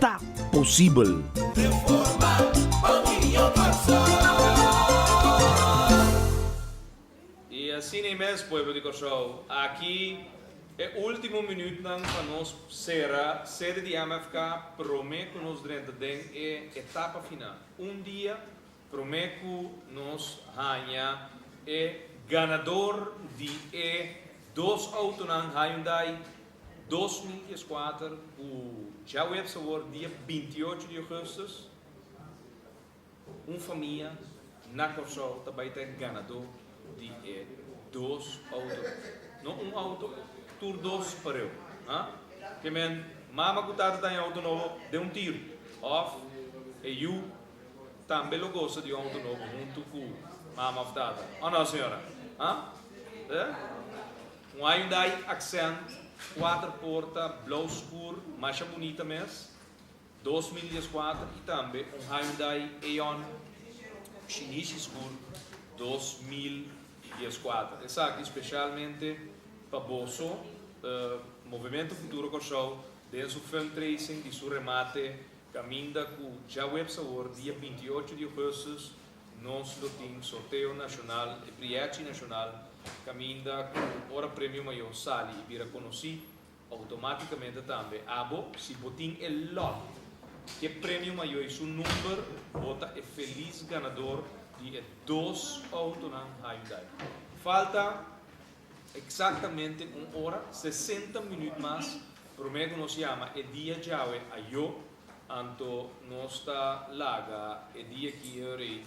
ta posibel. Y asini mes pueblo di Corsou, aki e ultimo minutnan pa nos cera sede di MFK prome cu nos drenta den e etapa final. Un dia Promé ku nos haña e ganador di e dos outonan Hyundai dos mil dies kuater ku djaweps ta wòrdu dia binti y ocho di ougùstus, un famia na Kòrsou ta bai ta e ganadó di e dos outonan. No un outo, tur dos pareu. Ha? Ke men, mama ku tata ta haña outo nobo den un tiru òf e yu Tambe lo gosa di un auto nobo huntu ku mama òf tata, o no, señora? Ha? E? Un Hyundai Accent kuater porta blou skur masha bunita mes, dos mil dieskuater i tambe un Hyundai Eon Shinichi skur dos mil dieskuater. Esaki spesialmente pa boso, Movimento Futuro Kòrsou den su filmtracing di su remate Caminda cu djaweps awor dia binti i ocho di augustus nos lo tin sorteo nacional e priachi nacional caminda cu ora premio mayo sali y bira conoci automaticamente tambe abo si bo tin e lot c'e premio mayo y su number bo ta e feliz ganador di e dos autonan Hyundai. Falta. Exactamente un ora sesenta minuut mas prome cu nos yama e dia djawe ayo, anto nos ta laga e dia ki e rey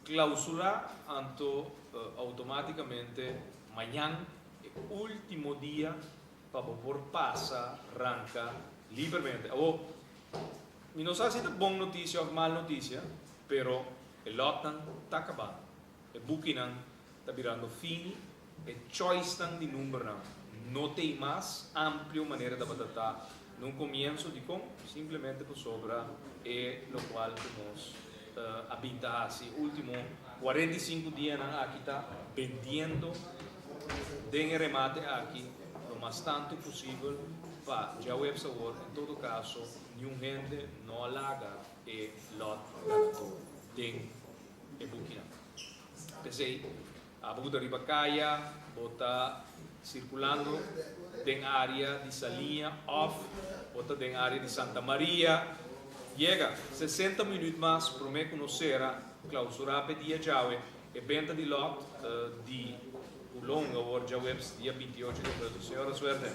clausura, anto automaticamente mañan e ultimo dia pa bo por pasa ranca libermente. Awo, mi no sa si ta bon noticia of mal noticia, pero e lotnan ta cabando. E bukinan ta birando fini, e choicenan di numbernan no ta ei mas amplio manera tabata ta na un comienzo. Dicon? Simplemente pasobra e locual cu nos a bin ta haci e ultimo cuarenta i sinku dianan aki ta bendiendo den e remate aki lo mas tanto posibel pa djaweps awor. En todo caso, niun hende no a laga e lot ganador den. e bukinan. P'esei, abo bo ta riba kaya, bo ta sirkulando den área di Saliña òf bo ta den área di Santa Maria, yega sesenta minüt mas promé ku nos sera klausurá p'e dia djawe e benta di lòt di Pulong awor djaweps dia binti ocho di abril. Señora Suerte.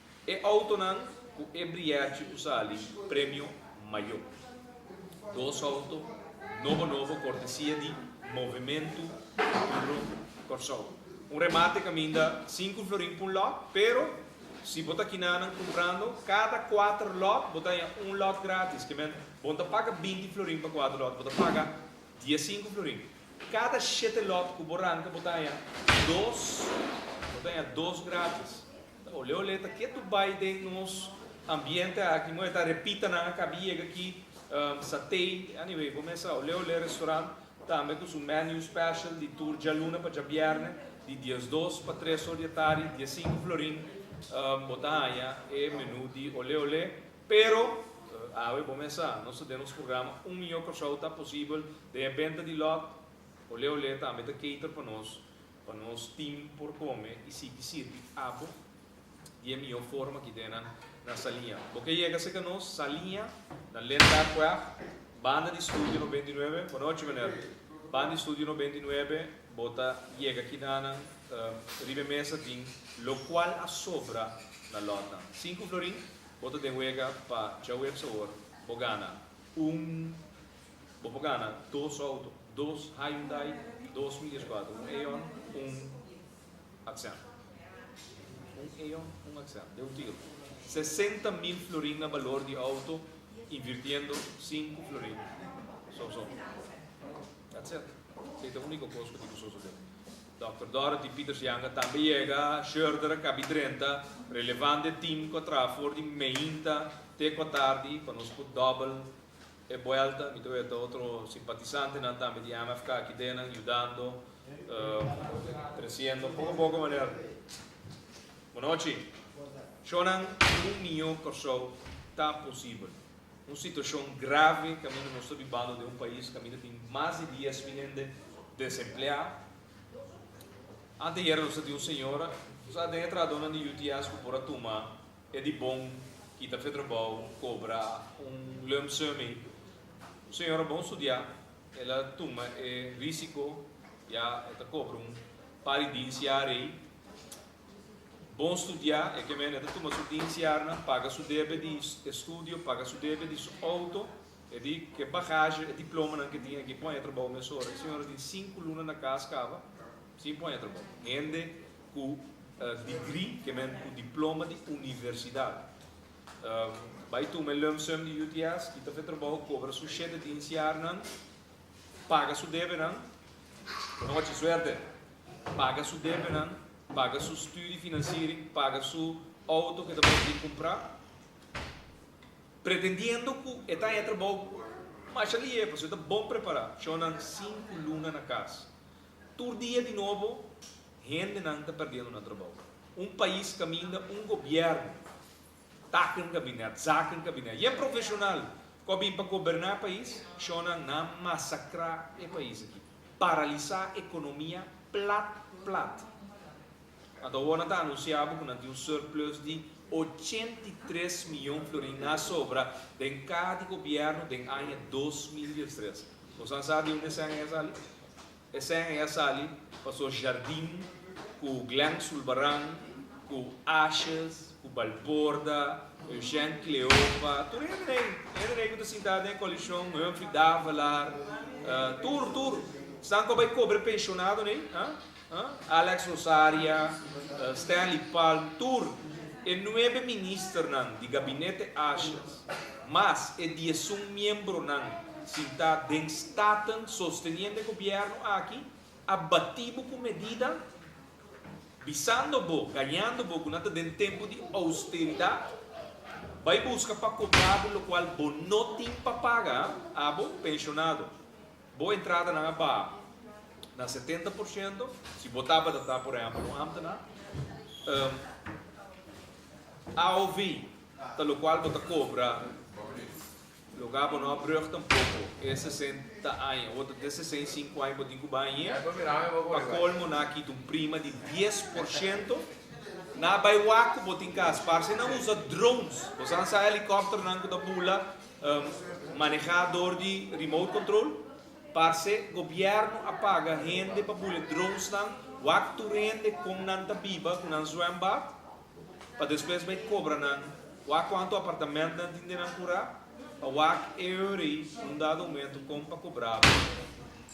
E outonan ku e brièchi ku sali Premio Mayo. Dos outo nobo nobo kortesia di Movimentu Duro Kòrsou. Un remate kaminda sinku florin pa un lòt, pero si bo ta kinanan kumprando, kada kuater lòt bo ta haña un lòt grátis. Ke men, bo no ta paga binti florin pa kuater lòt, bo ta paga diesinku florin. Kada shete lòt ku bo ranka bo ta haña dos, bo ta haña dos grátis. Olé olé ta ke tu bai den nos ambiente aki moe ta repita nan a kabi yega aki satei anyway bo mesa olé olé restaurant tambe ku su menu special di tur djaluna pa djabierne di diesdos pa tres or di e tardi dies sinku florin bo ta haña e menu di olé olé pero awe bo mesa nos ta den nos programa un miyo Kòrsou ta posibel den e benta di lòt olé olé tambe ta cater pa nos. Pa nos team por come y sigui sirbi abo di e miho forma ki den nan na Salia. Bo ke yega cerca nos, Salia, na Lindart Quaff, Banda di Studio No. Binti Nuebe. Bo nochi meneer. Banda di Studio No. Binti Nuebe, bo ta yega aki na nan riba e mesa tin locual a sobra na lot nan. Sinku florin, bo ta den wega pa djawe op sabor, bo gana un. Bo por gana dos auto, dos Hyundai, dos Midas cuatro, un Aeon, un Accent. Un Aeon, un Accent, de un tiro. Sesenta mil florin na balor di auto, invirtiendo sinku florin son son. That's it. Sei ta unico cos cu tin cu sosode. Dokter Dorothy Pieters Janga tambe yega, Schurder a kabi drenta, relevante team cu a traha for di meinta te cuatardi pa nos cu double E buelta mi ta wet ta otro simpatisantenan tambe di MFK aki denan yudando, treciendo poko poko manera. Bunochi. Shonan un miño Kòrsou ta posibel. Un situashon grave kaminda nos ta bibando den un pais kaminda tin mas di dies mil hende desempleá. Anteayera nos a tin un señora ku sa den e trahadónan di UTS ku por a tuma E di bon kita fe trabao cobra un lump sum ey. Un señora bon studia el a tuma e risico ya e ta cobra un pa di dinciar ey. Bon studia e ke men e ta tuma su dinciarnan, paga su debe di estudio, paga su debe di su auto. E di ke bagaje, e diplomanan ke tin aki pon e trabao mesora. E señora tin sinku luna na cas caba sin pon e trabao. Hende. Ku digri, ke men ku diploma di universidat. Bai tuma e lump sum di UTS i ta fe trabou kobra su shete diensiarnan, paga su debenan, un ochi suerte, paga su debenan, paga su studi finansiering, paga su outo ke ta bai di kumpra, pretendiendo ku e ta haña trabou masha lihé, pasobra e ta bon prepará. Shonnan sinku luna na kas. Tur dia di nobo hendenan ta perdiendo nan trabou. Un pais caminda un gobierno, taken cabinet, zaken cabinet, y e profesional cu a bin pa goberna e pais, shonan nan a masacra e pais aki, paralisa economia plat plat. Anto awor nan ta anunsiá bo ku nan tin un surplus di ochenta i tres mion florin na sobra den kaha di gobièrnu den aña dos mil diestres. Boso a sa di un esèn ei a sali? Esèn ei a sali pasobra Jardín ku Glen Zulbarán ku Ashes ku Balborda, Eugène Cleofa, tur hende na ei, hende na ei ku ta sintá den e koalishon, Humphrey Davelaar, tur, tur, stanko bai kobre penshonado na ei, a? Alex Rosaria, Stanley Pal tur e nuebe ministernan di gabinete Ashes mas e diesun miembronan sintá den Staten sosteniendo e gobièrnu aki a batí bo ku medida bisando bo gañando bo ku nan ta den tempu di austeridat bai buska pa kobra bo lokual bo no tin pa paga abo penshonado. Bo entradanan a baha na setenta por shento si bo tabata ta, por ehèmpel, un ámtená. AOV, ta lokual bo ta kobra loke bo no a brùg tampoko e sesenta aña, oto te sesenta i sinku aña bo tin ku bai ahier. Pa kolmo nan a kita un prima di dies por shento. Nan a bai wak ku bo tin kas. Parse nan usa drones. Bo sa nan sa helikòpternan ku ta bula Maneha dor di remote control. Parce gobierno a paga hende pa bule drones nan wak tur hende con nan ta biba cu nan zwembad pa despues bay cobra nan wak cuanto apartament nan tin den nan cura pa wak e hora y un dado momento con pa cobrabo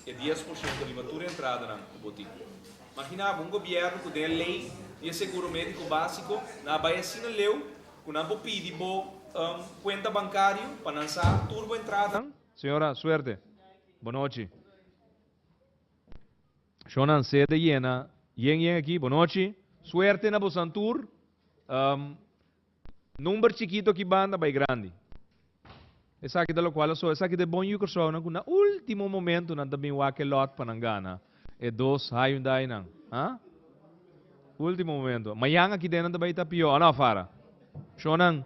e dies por ciento riba tur entrada nan cu bo tin. Maginabo un gobierno cu den e ley di e seguro medico basico nan a bay asina leu Cu nan por pidi bo cuenta bancario pa nan sa tur bo entrada. Señora, suerte. Bo nochi. Shonan C. de Yena, Yen yen aki, bo nochi. Suerte na bosan tur. Number chikito aki banda bay grandi. Esaki ta lokual a so, esaki ta e bon yukersounan ku na último momentunan ta bin wak e lòt pa nan gana e dos Hyundainan. Ha? Último momento. Mayan aki den nan ta bai ta pió, a no, Fara? Shonnan,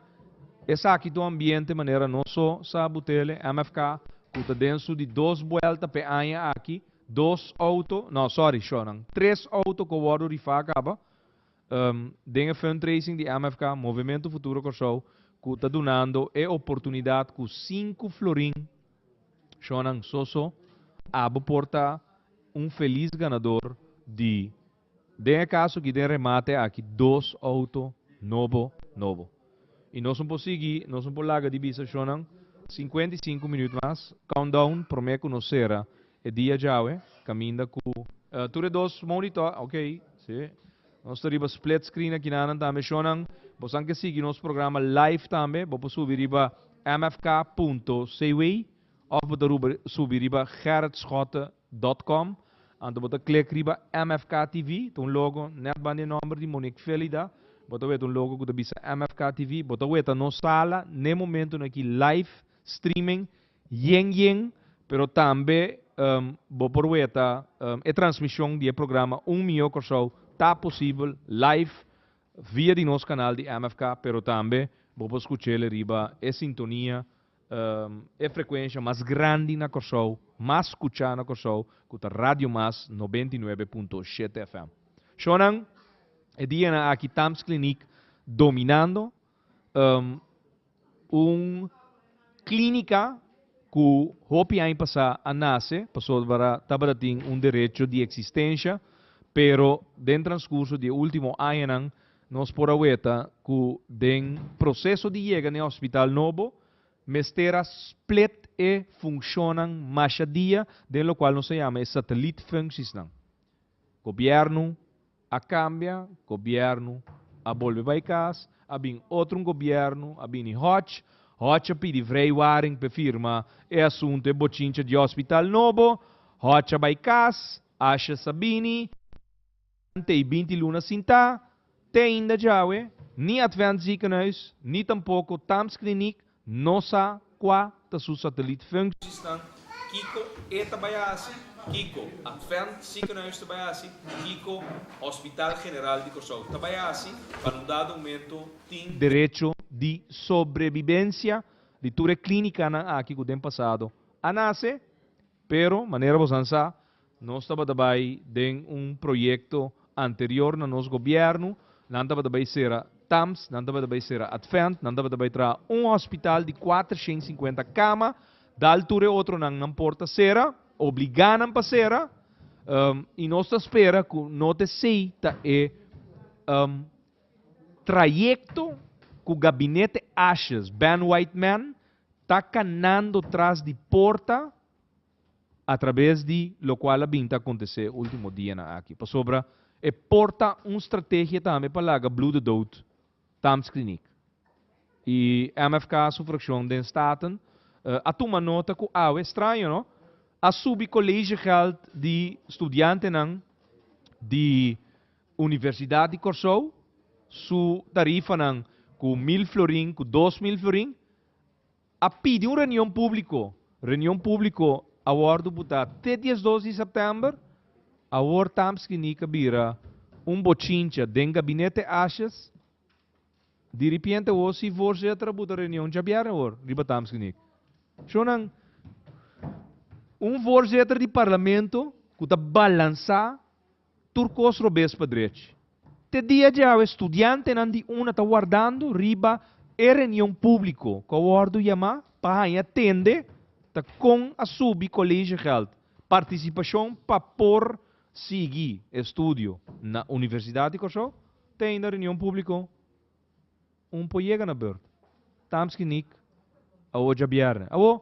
esaki ta un ambiente manera nos so sa Butele, MFK, ku ta den su di dos buelta p'e aña aki, dos outo, no, sorry, shonnan, tres outo ku a wòrdu rifá kaba, Den e fundraising di MFK, Movimento Futuro Kòrsou, ku ta dunando e oportunidat ku sinku florin, shònan so so, abo por ta un felis ganador di, den e kaso aki, den remate aki, dos outo nobo nobo. I nos un por sigui, nos un por laga di bisa shonnan sinkuenta i sinku minüt mas, countdown, promé ku nos sera e dia djawe, kaminda ku. Tur e dos monitò, ok. Si. Nos ta riba split screen akinanan tambe shonnan. Bosan ke sigui nos programa live tambe, bo por subi riba mfk punto cw. Òf bo ta ruba subi riba gerritschotte dot com, anto bo ta klik riba MFK TV, ta un logo nèt banda e nòmber di Monique Felida, bo ta weta un logo ku ta bisa MFK TV, bo ta weta nos sala n'e momentunan aki live streaming yen yen, pero tambe bo por weta e transmishon di e programa Un Mihó Kòrsou ta posibel live via di nos kanal di MFK, pero tambe bo por skuch'é riba e sintonia E frekuensha mas grandi na Kòrsou, mas skuchá na Kòrsou, ku ta Radio Mas nobenta i nuebe punto shete FM. Shònan, e dianan aki Tams Kliniek dominando, un klínika ku hopi aña pasá a nase pasobra tabatatin un derecho di eksistensha, pero den transkurso di e último añanan Nos por a weta cu den proceso di yega na e hospital nobo mester a split e funcionnan masha dia den locual nos a yama e satelliet functiesnan. Gobierno a cambia, gobierno a bolbe bay cas, a bin otro un gobierno, a bini Hodge, Hodge a pidi vrij Waring p'e firma e asunto e bochincha di hospital nobo, Hodge a bay cas, Ashes a bini, Ante e binti luna sintá, te ainda djawe, ni Advent Ziekenhuis, ni tampoko Thames Kliniek no sa kua ta su satelliet func. Sisnan, kiko e ta bai hasi, kiko Advent Ziekenhuis ta bai hasi, kiko Hospital General di Kòrsou ta bai hasi pa nun dado momento tin e. Derecho di sobrebibencia di tur e klínikanan aki ku den pasado a nase, pero manera bosan sa, Nos tabata bai den un proyekto anterior na nos gobièrnu, nan tabata bai sera Tams, nan tabata bai sera Advent, nan tabata bai traha un hòspital di kuater shen i sinkuenta kama, dal tur e otronan nan por ta sera, obligá nan pa sera, i nos ta spera ku no ta esei ta e trayekto ku Gabinete Ashes, Ben Whiteman, ta kanando tras di porta. a trabes di lokual a bin ta akontesé e último dianan aki. Pasobra e por ta un strategia tambe pa laga Blue de dout Tamsklinik. I MFK su frakshon den Staten a tuma nota ku awe, straño no, a subi kolegegèld di studiantenan di Universidat di Kòrsou su tarifanan ku mil florin ku dos mil florin, A pidi un reunion públiko. Reunion públiko a wòrdu butá te diesdos di sèptèmber. Awor tamb skiní ka bira un bochincha den gabinete ashes. Diripiente awor sí voorzetter a buta reunion djabièrnè awor riba tamb skiní. Shon nan, un voorzetter di parlamento ku ta balansá. Tur kos robes pa drechi. Te dia dje awe studiantenan di una ta wardando riba e reunion públiko ku a wòrdu yamá pa haña tende ta kon a subi koleshiegèld partisipashon pa por sigui e studio na Universidat di Kòrsou te ainda reunion públiko un por yega na bèrtu. Tamski Nick, awo djabièrnè. Awo.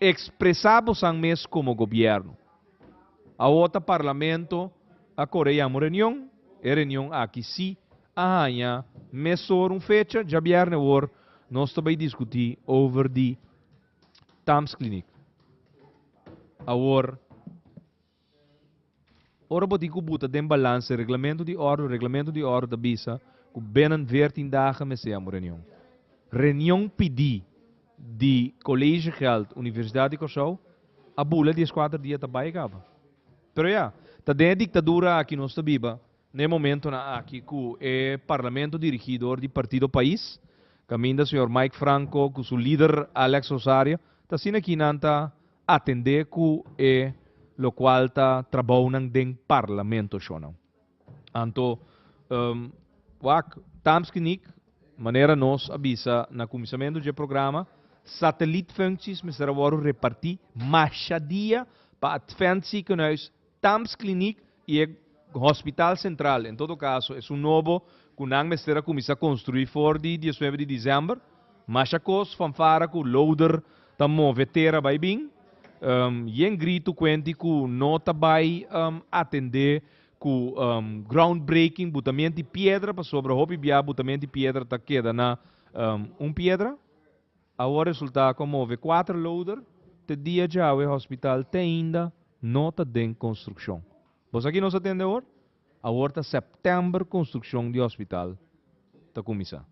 Expresa bosan mes como gobierno. Awo ta Parlamento a core yama un reunion, e reunion aki si a haña mesor un fecha, djabierne awor nos ta bay discuti over di Thamesclinic. Awor. Ora bo tin ku bu ta den balance reglamento di órdo, reglamento di órdo ta bisa ku binnen veertin dagen mester amo reunion. Reunion pidi di College Geld Universidad di Kòrsou a bula dies kuater dia ta bai kaba. Pero ya, ta den e diktadura aki nos ta biba na e momentonan aki ku e parlamento dirigí dor di Partido Pais, kaminda señor Mike Franco ku su lider Alex Rosario ta asina ki nan ta atendé ku e lokual ta trabounan den parlamento shonnan. Anto, wak, Tamski Nick, manera nos a bisa na kuminsamentu dje programa, satellietfunkties mester a wòrdu repartí masha dia pa Adventziekenhuis Tams Kliniek i e Hospital Sentral, en todo kaso, esun nobo ku nan mester a kuminsá konstruí for di diesnuebe di desèmber. Masha kos, fanfara ku loader ta move tera bai bin. Yen gritu kuenti ku no ta bai atendé ku groundbreaking, butamiento di piedra, pasobra hopi bia butamiento di piedra ta keda na un piedra. Awor resulta con move cuater loader te dia djawe hospital te ainda no ta den construccion. Bo sa ki nos a tende awor? Awor ta september construccion di hospital ta cuminsa.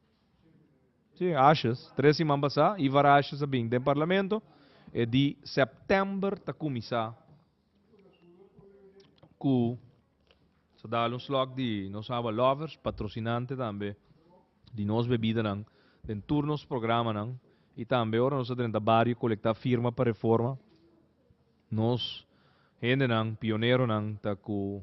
Si, ashes, tres siman pasa, Ivar Ashes a bin den parlamento, e di september ta cuminsa ku sa dal un slòk di nos awa lovers, patrosinante tambe di nos bebidanan den tur nos programanan i tambe ora nos ta drenta bario kolektá firma pa reforma nos hendenan, pioneronan ta ku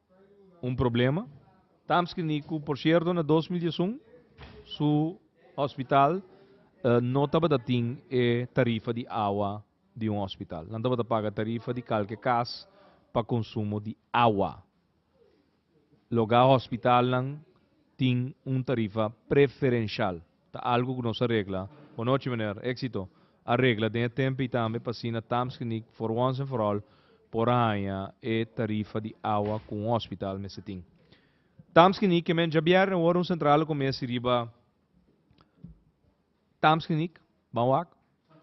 un problema. Tamski ni ku por sierto na dos mil dies un su hospital no tabata tin e tarifa di awa di un hospital. Nan tabata paga tarifa di kalke kas pa konsumo di awa. Loga hospitalnan tin un tarifa preferenshal. Ta algu cu nos a regla. Bo nochi meneer. Exito. A regla den e tempo y tambe pa asina Tamsgeniet for once and for all por a haña e tarifa di awa cu un hospital mester tin. Tamsgeniet que men djabierne worde un centrale cu mester riba Tamsgeniet, Ban Wak,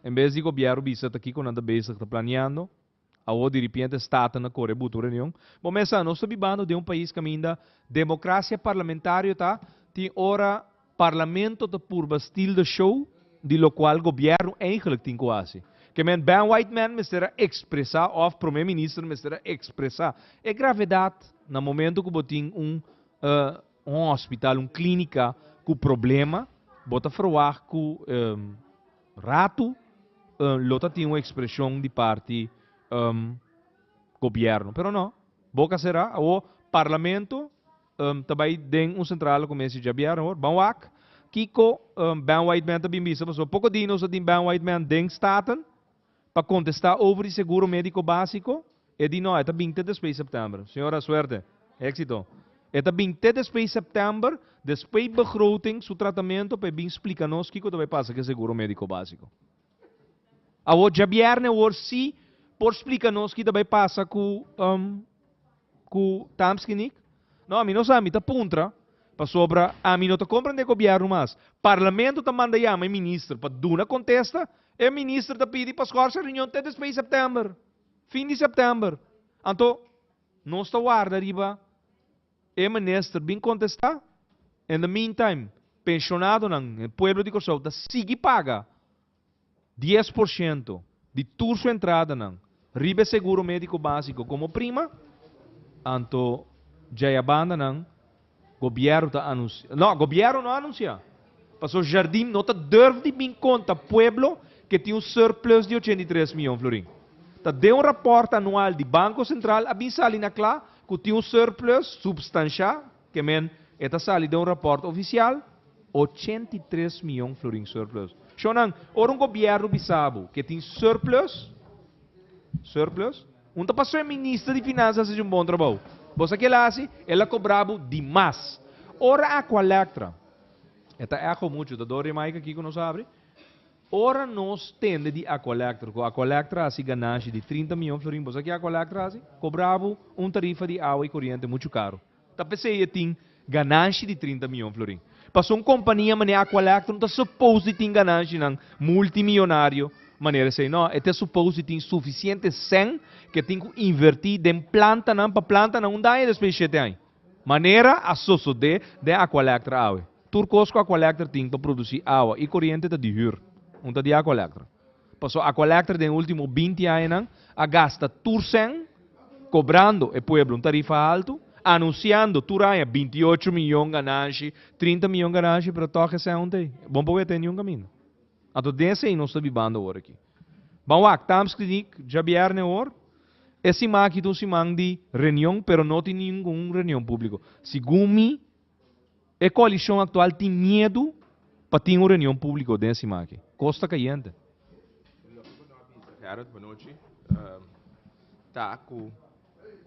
en bes di Gobierno bisa ta kico nan ta bezig ta planeando. Awor diripiente Staten a kore butu reunion. Bo mes sa, nos ta bibando den un pais kaminda democracia parlamentario ta tin ora parlamento ta purba stil de show di locual gobierno eigenlijk tin cu haci. Ke men Ben Whiteman mester a expresa of Prome Minister mester a expresa e gravedad na momento cu bo tin un hospital, un clinica cu problema, bo ta verwacht cu. Ratu lo ta tin un expresion di parti gobierno. Pero no, boca cera, awor Parlamento ta bay den un central cu mester djabiar awor. Ban wak kico Ben Whiteman ta bin bisa pasobra poco di nos ta tin Ben Whiteman den Staten. Pa contesta over di seguro medico basico, e di no, e ta bin te despues september. Señora, suerte! Exito! E ta bin te despues september, despues begroting, su tratamento, pa e bin splica nos kico ta bay pasa cu e seguro medico basico. Awor djabierne awor si por splica nos ki ta bay pasa cu, um, ku tamski nik? No, mi no sa, mi ta puntra pasobra ami no ta komprende e gobièrnu mas. Parlamento ta manda yama e minister pa duna kontesta, e minister ta pidi pa skòrse reunion te despei sèptèmber, fin di sèptèmber. Anto nos ta warda riba e minister bin kontestá. In the meantime, penshonado nan, e pueblo di Kòrsou ta sigui paga Dies por shento di tur su entradanan riba e seguro médiko básiko komo prima, anto dja e abandanan gobièrnu ta anunsiá, nò, gobièrnu no a anunsiá, pasó Jardim no ta durf di bin konta pueblo ke tin un surplus di ochenta i tres mion florin. Ta den un rapòrt anual di Banko Sentral a bin sali na kla ku tin un surplus substansha Ke men e ta sali den un rapòrt ofisial, ochenta i tres mion florin surplus. Shownan, ora un gobièrnu bisa bo ke tin surplus, surplus, un ta pasó e minister di Finansa a hasi un bon trabou. Bo sa ke el a hasi? El a kobrá bo di mas. Ora Aqualectra, e ta echo muchu, ta dor Jamaica aki ku nos abri, ora nos tende di Aqualectra, ku Aqualectra a hasi ganashi di trinta mion florin, bo sa ke Aqualectra a hasi? Kobrá bo un tarifa di awa i koriente muchu karu. Ta p'esei e tin gananshi di trinta mion florin. Pasobra un kompania manera Aqualectron ta supos di tin gananshinan multimillonario manera esei. No, e ta supos di tin sufisiente sen ke tin ku inverti den plantanan pa plantanan unda aña despues di shete aña. Manera a sosode den Aqualectron awe. Tur kos ku Aqualectron tin pa produsi awa i koriente ta di hür. Un ta di Aqualectron. Paso Aqualectra den e ultimo binti añanan a gasta tur cen cobrando e pueblo un tarifa alto, anunciando tur aña binti ocho miyon gananshi, trinta miyon gananshi, pero tok e cen untei bon por wete niun caminda. Anto den esei nos ta bibando awor aki. Ban wak, Tamskrinik, djabierne awor, e siman aki ta un siman di reunion pero no tin ningun reunion publico. Segun mi, E koalishon aktual tin miedu pa tin un reunion públiko den sima aki. Kos ta kayente. Harold Bonochi ta ku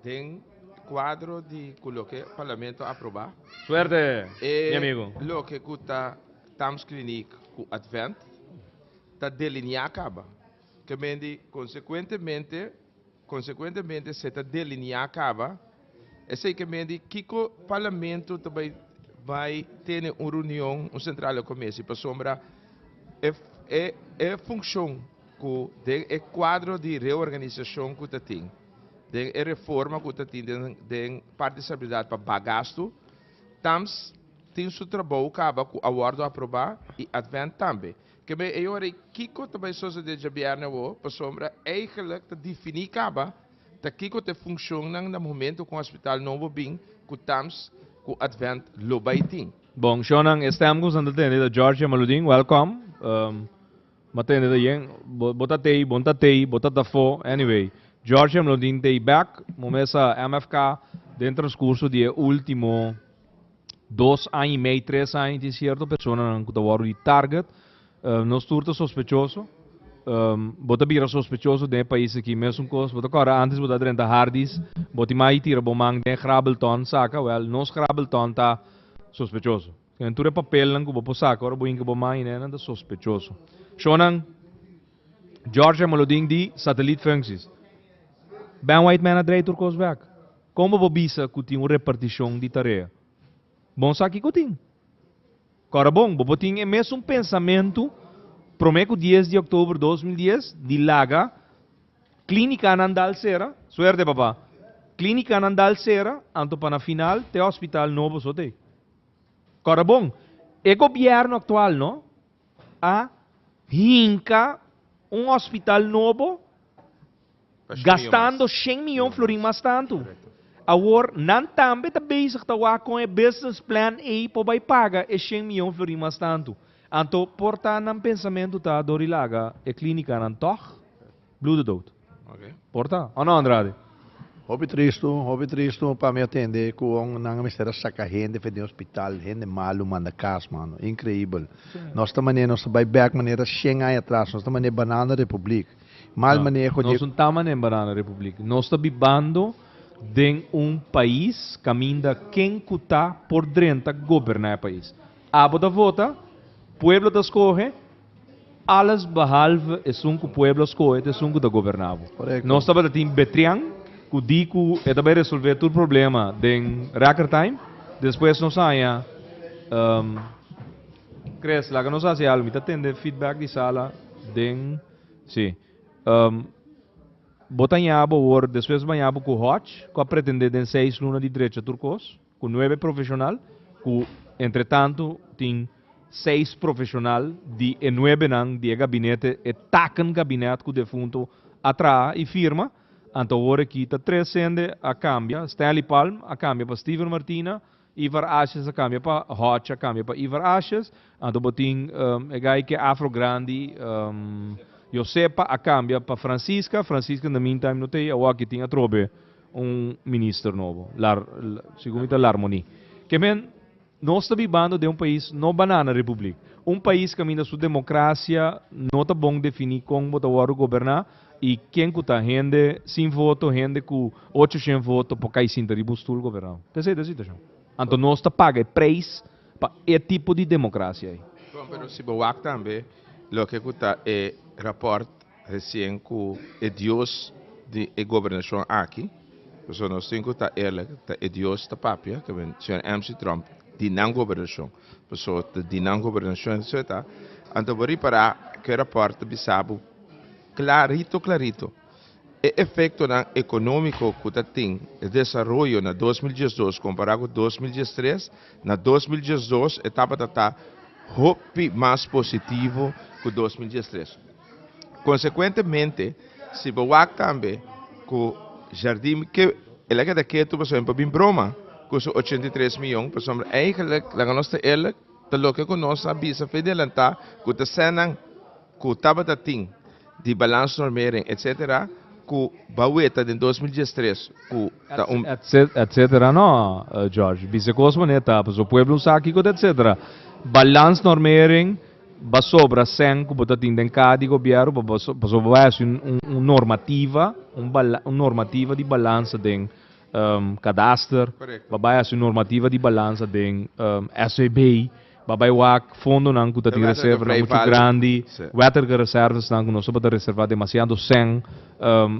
den kuadro di ku loke Parlamento aprobá. Suerte mi amigo. E loke ku ta Thames Clinic ku Advent ta delineá kaba. Ke men di konsekuentemente, konsekuentemente se ta delineá kaba, esei ke men di kiko Parlamento ta bai bai tene un reunion, un sentral di komesi pasobra e e e funshon ku den e kuadro di reorganisashon ku ta tin, den e reforma ku ta tin den den parti di stabilidat pa bak gastu, Tams tin su trabou kaba ku a wòrdu aprobá i Advent tambe. Kebe e ora i kiko ta bai sosodé djabièrnè awó? Pasobra eigelik ta difiní kaba ta kiko ta e funshonnan na momentu ku Hospital Novo bin, ku tams ku Advent lo bai tin. Bon, shonnan, e stèm ku boso ta tende ta Georgia Maludin. Wèlkòm. Bo a tende ta yen? Bo ta tei? Bo no ta tei? Bo ta ta afó? Anyway, Georgia Maludin tei bèk. Bo mester a MFK den transkurso di e último. dos aña y mei, tres aña tin cierto personanan cu ta worde di target. Uh, nos tur ta sospechoso. Um, bo ta bira sospechoso den país aquí. Mesun cos, bo ta corre antes bo ta drenta hardis. Bo ti mai tira bo man den grabelton saca. Wel, nos grabelton ta sospechoso. En tur e papelnan cu bo po saca, ora bo inca bo man y nenan ta sospechoso. Shonan, George Moloding di Satelliet Functies. Ben White Man a draai tur cos back. Como bo bisa cu tin un reparticion di tarea? Bon sa kico tin? Cora bon, bo por tin e mesun pensamento prome cu dies di october dos mil dies di laga clinicanan dal cera, suerte papa, clinicanan dal cera anto pa na final te hospital no bo sot ey. Cora bon, e gobierno actual no a hinca un hospital nobo. Gastando shen miyon florin mas tantu. Awor nan tambe ta bezig ta wak kon e business plan ey por bay paga e shen miyon florin mas tantu. Anto por ta nan pensamentu ta dor di laga e clinicanan tog? Bloede dood. Por ta, o no Andrade? Hopi tristu, hopi tristu pa mi a tende cu hon nan a mester a saca hende fen den hospital, hende malu manda cas mano. Increibel. Nos ta mane, nos ta bay back manera shen aña atras, nos ta mane banana republic. Mal maneho di. Nos no ta mané Banana Republiek. Nos ta bibando den un pais kaminda ken ku ta por drenta goberná e pais. Abo ta vota, pueblo ta skohe, alles behalve esun ku pueblo a skohe ta esun ku ta goberná bo. Korekto. Nos tabatatin Betrian ku di ku e ta bai resolvé tur problema den Reckertime, despues nos a haña Chris, laga nos hasi algu. Mi ta tende feedback di sala den. Sí. Um, bo ta ñabo wor, despues bo ñabo ku Hodge, ku a pretendé den seis luna di drecha tur kos, ku nuebe profeshonal, ku entre tantu tin seis profeshonal di e nuebenan di e gabinete, e taken gabinet ku defunto a traha i firma, anto wor aki ta tres hende a kambia, Stanley Palm a kambia pa Steven Martina, Ivar Ashes a kambia pa Hotch a kambia pa Ivar Ashes, anto bo tin e gai ke afro grandi, Josepa a kambia pa Francisca, Francisca in the meantime no ta ei awor aki tin atrobe un minister nobo, segun mi ta Larmoni. Ke men, nos ta bibando den un pais, no banana republiek, un pais kaminda su demokrasia no ta bon defini kon bo ta wòrdu goberná, Y ken cu ta hende sin voto, hende cu ocho shen voto por cay sinta riba un stoel gobernau. Ta esey ta e situacion. Anto nos ta paga e prijs pa e tipo di democracia ey. Bon, pero si bo wak tambe loke cu ta e rapport recien cu e dios di e gobernacion aki, pasobra nos tin cu ta eerlijk, ta e dios ta papia, ta ben Señor Mc. Trump, di nan gobernacion. Paso di nan gobernashon e sot a, anto bo ripará ku e rapòrt ta bisa bo klarito klarito e efektonan ekonómiko ku ta tin e desaroyo na dos mil diesdos kompará ku dos mil diestres. Na dos mil diesdos e tabata ta hopi mas positivo ku dos mil diestres. Konsekuentemente, si bo wak tambe ku Jardim ke el a keda ketu pasobra e por bin broma ku su ochenta i tres miyon pasobra eigelik laga nos ta eerlik ta loke ku nos a bisa fe delantá ku ta esènan ku tabata tin di balansnormering etsetera ku ba weta den dos mil dies tres ku ta un etsetera no George bisa kos manera ta pasobra pueblo no sa kiko ta etsetera balansnormering Basobra cen cu bo ta tin den cada di Gobierno pa pasobra bo a haci un normativa, un normativa di balansa den Kadaster, bo bay haci un normativa di balansa den SVB, bo bay wak fondonan cu ta tin reservanan muchu grandi, wettige reservasnan cu nos tabata reserva demasiado cen,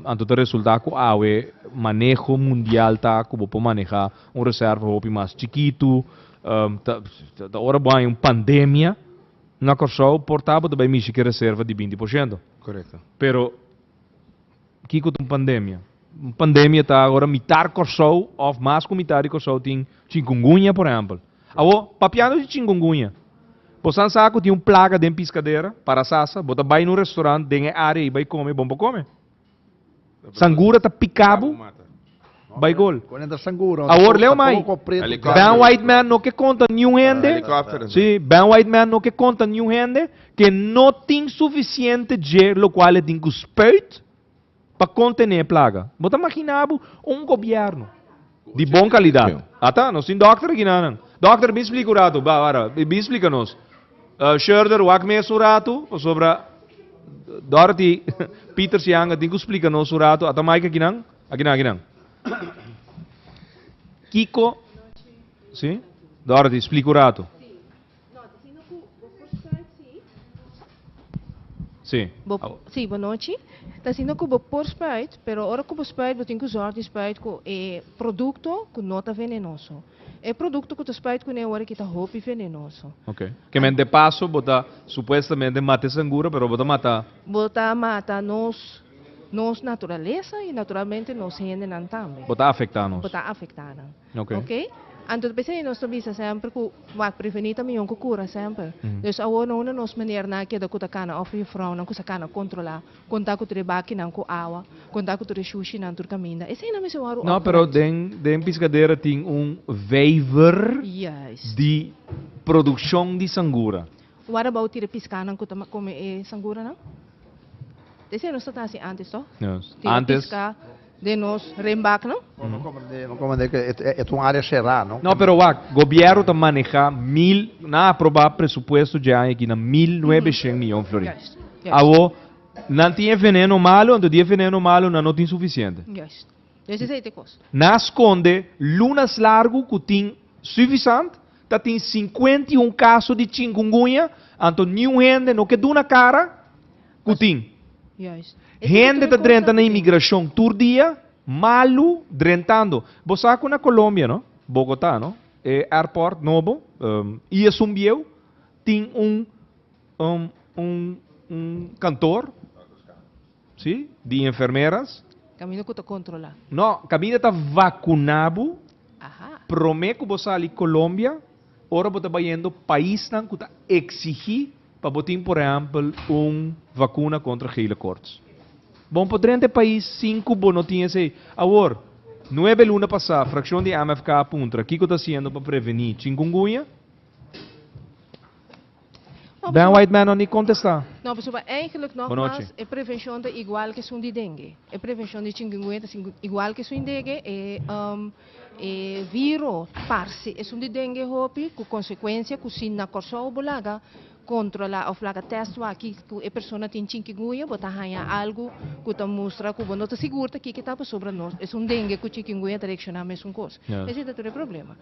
anto ta resulta cu awe maneho mundial ta cu bo por maneha un reserva hopi mas chikitu. Ta ora bo hay un pandemia na Kòrsou por ta bo ta bay mishi ki reserva di binti por shento. Correcto. Pero kiko ta un pandemia? Un pandemia ta ora mitar Kòrsou of mas ku mitar di Kòrsou tin chinkungunya por ehempel. Awo papiando di chinkungunya bo san sa ku tin un plaga den piskadera para sasa bo ta bay na un restaurant den e área bay kome bon pa kome. Sangura ta pika bo bai gol. Awor leu mai. Ben White Man no ke konta niun hende, si, Ben White Man no ke konta niun hende ke no tin sufisiente dje lokual e tin ku spuit pa kontené e plaga. Bo ta makina bo un gobièrnu. di bon kalidat. Ata, nos tin dòkter aki nanan. Dòkter, bin splika un ratu. Ba, wara, bin splika nos. Sherder, wak mesa un ratu, pasobra Dorothy, Pieter su yanga, tin ku splika nos un ratu. Ata maike akinan? Akinan, akinan. Kiko, si? Dorothy, splika un ratu. Sí. Bo, Au. sí, bonochi. Ta asina ku bo por spruit, pero ora ku bo spruit bo tin ku zòrg di spruit ku e produkto ku no ta venenoso. E produkto ku ta spruit kuné wòrdu kita hopi venenoso. Ok. Kemènt de paso bo ta supuestamente mata e sangura, pero bo ta mata. Bo ta mata nos nos naturalesa i naturalmente nos hendenan tambe. Bo ta afektá nos. Bo ta afektá nan. Ok. Anto ta bisa di nos ta bisa semper ku wak preveni ta mihó ku kura semper. Dus awor no unda nos meneer nan a keda ku ta kana òf jufrounan ku sa kana kontrolá kon ta ku tur e bakinan ku awa, kon ta ku tur e shushinan tur kaminda. Esei nan mester wòru òf granchi. No, pero den piskadera tin un vijver di produkshon di sangura. Wòt abou tira piskanan ku ta kome e sanguranan? Esei nos ta hasi antes tòg? Tira piska. den nos renbak no. Bo no cobra den no cobra e ta un area cerá no. No pero wak gobierno ta maneha mil nan a aproba presupuesto dje aña aki na mil nuebeshent miyon florin awo nan tin e veneno malo anto di e veneno malo nan no tin suficiente nan a sconde lunas largo cu tin suvisant ta tin cincuenta y un caso di chingunguña anto niun hende no ke duna cara. ku tin. Hende ta drenta na imigrashon tur dia, malu drentando. Bo sa ku na Colombia, no? Bogotá, no? E airport nobo, i esun bieu, tin un un kantor, si, di enfermeras. Kaminda ku ta kontrolá. No, kaminda ta vakuná bo promé ku bo sali Colombia, Ora bo ta bayendo paisnan cu ta exigi pa bo tin por ehempel un vacuna contra gele koorts. Bon por drenta e pais sin cu bo no tin esey. Awor, nuebe luna pasa fraccion di MFK a puntra kico ta haciendo pa preveni chingungunya? Ben White Mano ni kontestá. No pasobra e eigenlijk nogmas e prevenshon ta igual ke esun di dengue. E prevenshon di chingungunya ta igual ke esun di dengue. E viro parse esun di dengue hopi ku konsekuensia ku si na Kòrsou bo laga kontrola òf laga tèst waki ku e persona tin chinkingunya bo ta haña algu ku ta mustra ku bo no ta sigur ta kiko ta pasobra no esun dengue ku chinkingunya ta reakshoná mesun kos. Esei ta tur e problema.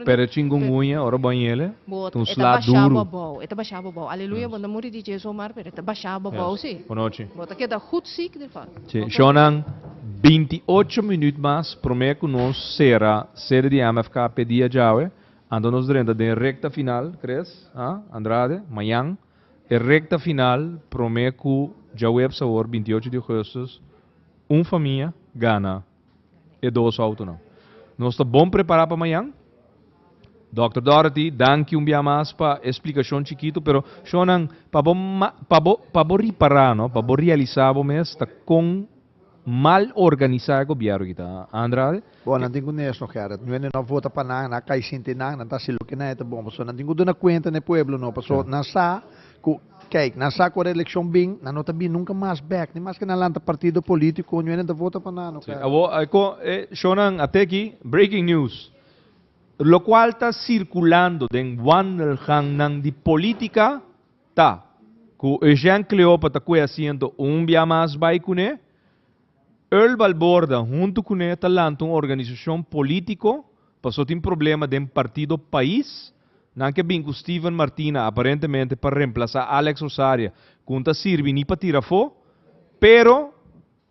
Pero e chingungunya, ora bo a hiele, ta un sla duru. Shonnan, binti ocho minuut mas prome ku nos sera sede di MFK p'e dia djawe, anto nos drenta den e rekta final, Chris, a? Andrade, Mayan, e rekta final prome ku djaweps awor binti ocho di ogustus un famia gana. e dos outonan. Nos ta bon prepará pa mañan? Dòkter Dorothy, danki un bia mas pa e splikashon chikitu, pero shonnan, pa bo pa bo pa bo ripará, no, pa bo realisá bo mes ta kon mal organisá e gobièrnu ki ta andra al. Bon, nan tin ku nes no kèr. Nú ende no a vota pa nan, nan a kai sinti nan, nan ta hasi loke nan e ta bon. Pasobra nan tin ku duna kuenta n'e pueblo no, pasobra nan sa ku Kijk, nan sa ku reelekshon bin, nan no ta bin nunka mas bèk, ni maske nan lanta partido polítiko, oño hende ta vota pa nan oca. Awor, e kon e shownan a teki, breaking news, lokual ta sirkulando den wandelgangnan di polítika ta ku Eugène Cleopa ta kue asiento un bia mas bai kuné, Earl Balborda huntu kuné ta lanta un organisashon polítiko, Paso tin problema den partido pais. Nan ke bin ku Steven Martina aparentemente pa remplasá Alex Rosaria ku un ta sirbi ni pa tira afó, pero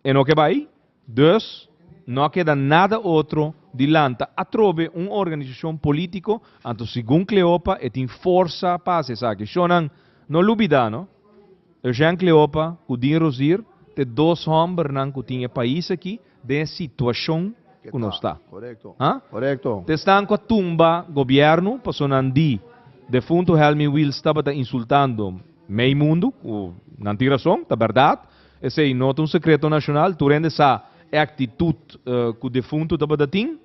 e no ke bai. Dus no a keda nada otro di lanta atrobe un organisashon polítiko, anto segun Cleopa e tin forsa pa hasi esaki. Shò nan, no lubidá no, Eugène Cleopa ku Dean Rosier t'e dos hòmbernan ku tin e pais aki, den e situashon ku nos ta. Ha? Te esnan ku a tumba gobièrnu pasobra nan di defuntu Helmy Wils tabata insultando mei mundu, ku nan tin rason, ta bèrdat. Esei no ta un sekreto nashonal, tur hende sa e aktitut ku defuntu tabata tin.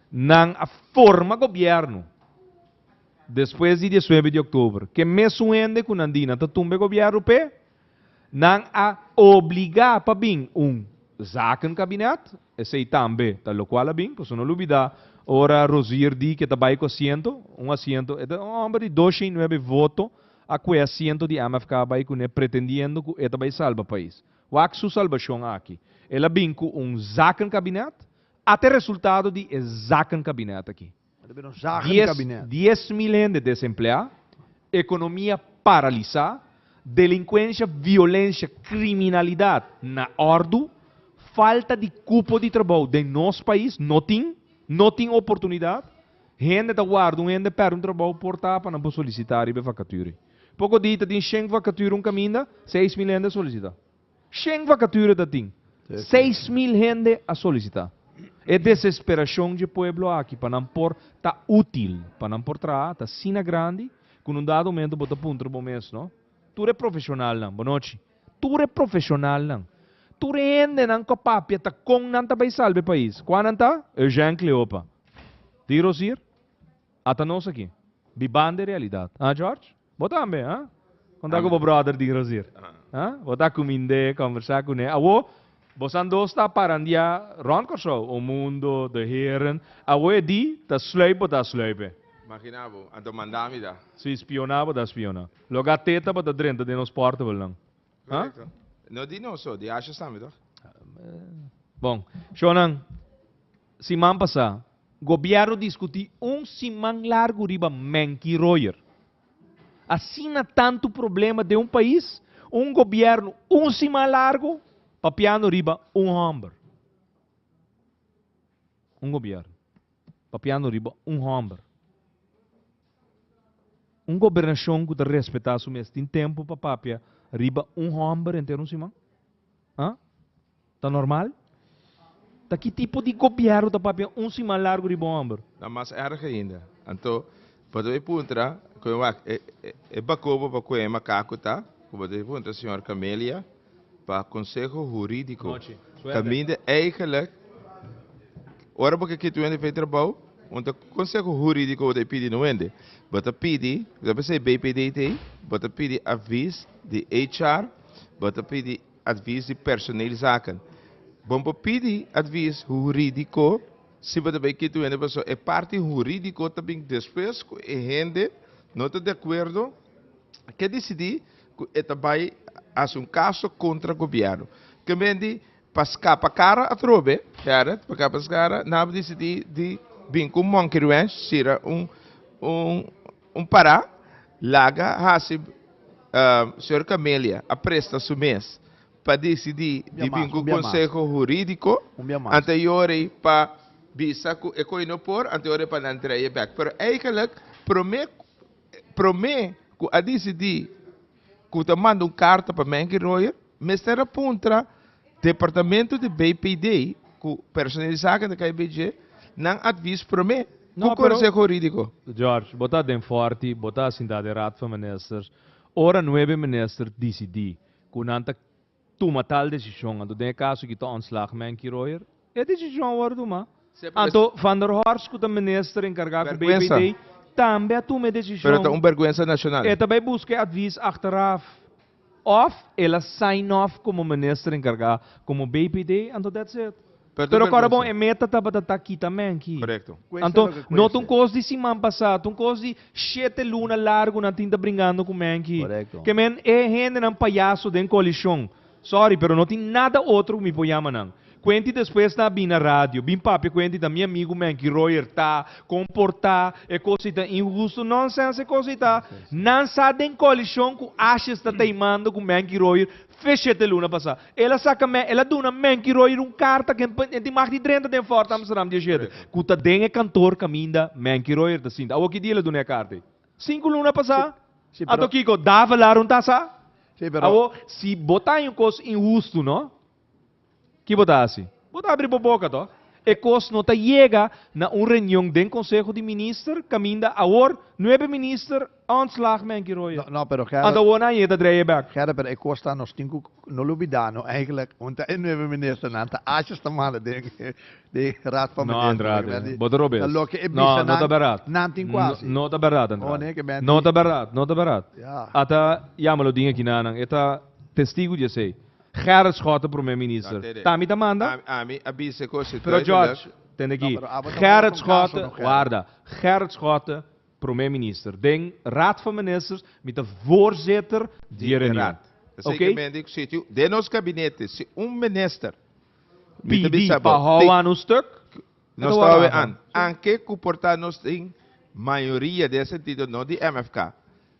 Nan a forma gobièrnu despues di diesnuebe di òktober. Ke mesun hende ku nan di nan ta tumba e gobièrnu p'e Nan a obliga pa bin un Zakenkabinet, esei tambe ta lokual a bin, paso no lubida ora Rosier di ke ta bai ku asiento, un asiento, e ta un homber di dosha i nuebe voto, a kue asiento di MFK a bai kuné pretendiendo ku e ta bai salba pais. Wak su salbashon aki. El a bin ku un Zakenkabinet, ate resultado di e Zakenkabinet aki. Dies dies mil hende desempleá, ekonomia paralisá, delinkuensha, violensha, kriminalidat na òrdu, falta di kupo di trabou den nos pais, no tin, no tin oportunidat, hende ta warda un hende pèrdè un trabou por ta pa nan por solisitá riba e vakatüri. Poko di ta tin shen vakatüri un kaminda, seis mil hende a solisitá. Shen vacature ta tin. Seis mil hende a solicita. E desesperacion dje pueblo aki pa nan por ta util, pa nan por traha ta asina grandi cu nun dado momento bo ta puntra bo mes no, tur e profesionalnan, bonochi, tur e profesionalnan, tur e hendenan cu a papia ta con nan ta bay salba e pais? Cua nan ta? Eugène Cleopa. Di Rosier? Ata nos aki. Bibando e realidad. Ah George? Bo tambe, ha? Konta ku bo bròder di Rosier. Ha? Bo ta kumind'é, kòmbersá kuné. Awo, bosan dos ta parandiá rònt Kòrsou, un mundo, de heren. Awo e di, ta sluip bo ta sluip'é. Maginá bo, anto mandá mi ta. Sí, spioná bo ta spioná. Loke a teta bo ta drenta den nos portabelnan. Correcto. No di no so, di Ashes tambe toch? Bon, shonan, siman pasa, gobierno discuti un siman largo riba Menki Royer. Asina tanto problema den un pais, un gobierno un siman largo papiando riba un homber. Un gobierno papiando riba un homber. Un gobernashon ku ta respetá su mes tin tempu pa papia riba un hòmber henter un siman? A? Ta normal? Ta ki tipo di gobièrnu ta papia un siman largu riba un hòmber? Ta mas èrg ainda. Anto, pasobra e puntra, Koen wak, e bakobo pa Koen makaku ta? Ku bo ta puntra, señor Camelia? Pa konseho hurídiko ta minde eigelik ora bo ke kit wende fei trabou un ta konseho hurídiko bo ta pidi no wende bo ta pidi lo pesei BPD te bo ta pidi avis di HR bo ta pidi advis di personeel zaken bon por pidi advis hurídiko si bo ta bai kit wende paso e parti hurídiko ta bin despues ku e hende no ta de akuerdo ke disidi ku e ta bai hasi un kaso kontra gobièrnu. Tambe di pa skapa kara atrobe, Gerrit, pa skapa kara, nan a disidí di bin ku un monkey wrench, sira un pará, laga hasi Señor Camelia a presta su mes pa disidí di bin ku konseho hurídiko anterior ei pa bisa ku e koi no por, anterior ei pa nan drei'e bèk. Pero, eikèlèk, promé. Prome ku a disidí ku ta manda un karta pa Menke Royer, mester a puntra departamentu di BPD ku persone'e zaken di KBJ nan atvis prome ku Konseho Huridiko. George, bo ta den Forti, bo ta sintá den Raad van Ministers. Ora nuebe minister disidí ku nan ta tuma tal desishon, anto den e kaso ki ta ontslag Menkie Royer, e desishon a wòrdu tumá. Anto Van der Horst ku ta minister enkargá ku BPD tambe a tuma e desishon. Pero ta un bèrgwensa nashonal. E ta bai buska e atvis achteraf òf el a sign off komo minister enkargá, komo BPD, anto that's it. Pero kòrda bon e meta tabata ta kita mènki. Korekto. Anto, no ta un kos di siman pasá, ta un kos di shete luna largu nan tin ta bringando ku mènki. Korekto. Ke men e hendenan payaso den koalishon. Sòri, pero no tin nada otro ku mi por yama nan. Kuenti despues nan a bini na radio, bin papia kuenti ta mi amigu mènki Royer ta komportá, e kos ei ta inhusto. Nònsèns e kos ei ta. Nan sa den koalishon ku Ashes ta teimando ku mènki Royer fe shete luna pasá. El a saka me, el a duna Menkiroyer un karta ku e tin mag di drenta den Fort Amsterdam di e shete ku ta den e kantor kaminda Menkiroyer ta sinta. Awor ki dia el a duna e karta ei? Sinku luna pasá. Anto kiko? Davelaar un tasa? Awor, si bo ta haña un kos inhustu, no? Ki bo ta hasi? Bo ta abri bo boka to. E kos no ta yega na un reunion den konseho di minister kaminda awor nuebe minister, Ontslag Menky Royer. No, no, pero Gerrit. Anta wor nan yeta dreie bek. Gerrit, pero e kos ta nos tin ku no lo bida no eigentlik hunta e nueve ministernan ta asha esta mala den den Raad van Minister. No, Andrade. Bo ta robes. Ta loke e bisa nan. No, no ta bèrdat. Nan tin ku hasi. No ta bèrdat, Andrade. Ohne ke menti. No ta bèrdat, no ta bèrdat. Ya. Ata yama lo din aki na nan. E ta testigu di esei. Gerrit Schotten ta Prome Minister. No, Teddy. Ta mi ta manda. Ami, ami a bisa e kos si duidelik. Pero George, tende aki. No, pero abo ta wor kon kaso no, Gerrit. Warda. Gerrit Schotten. Prome minister. Den Raad van Ministers mi ta voorzitter di e reunion. Oké. Den nos gabinete si un minister pidi pa hou anu stuk, e ta hou anu stuk. Anke ku por ta nos tin mayoria den e sentido, no di MFK,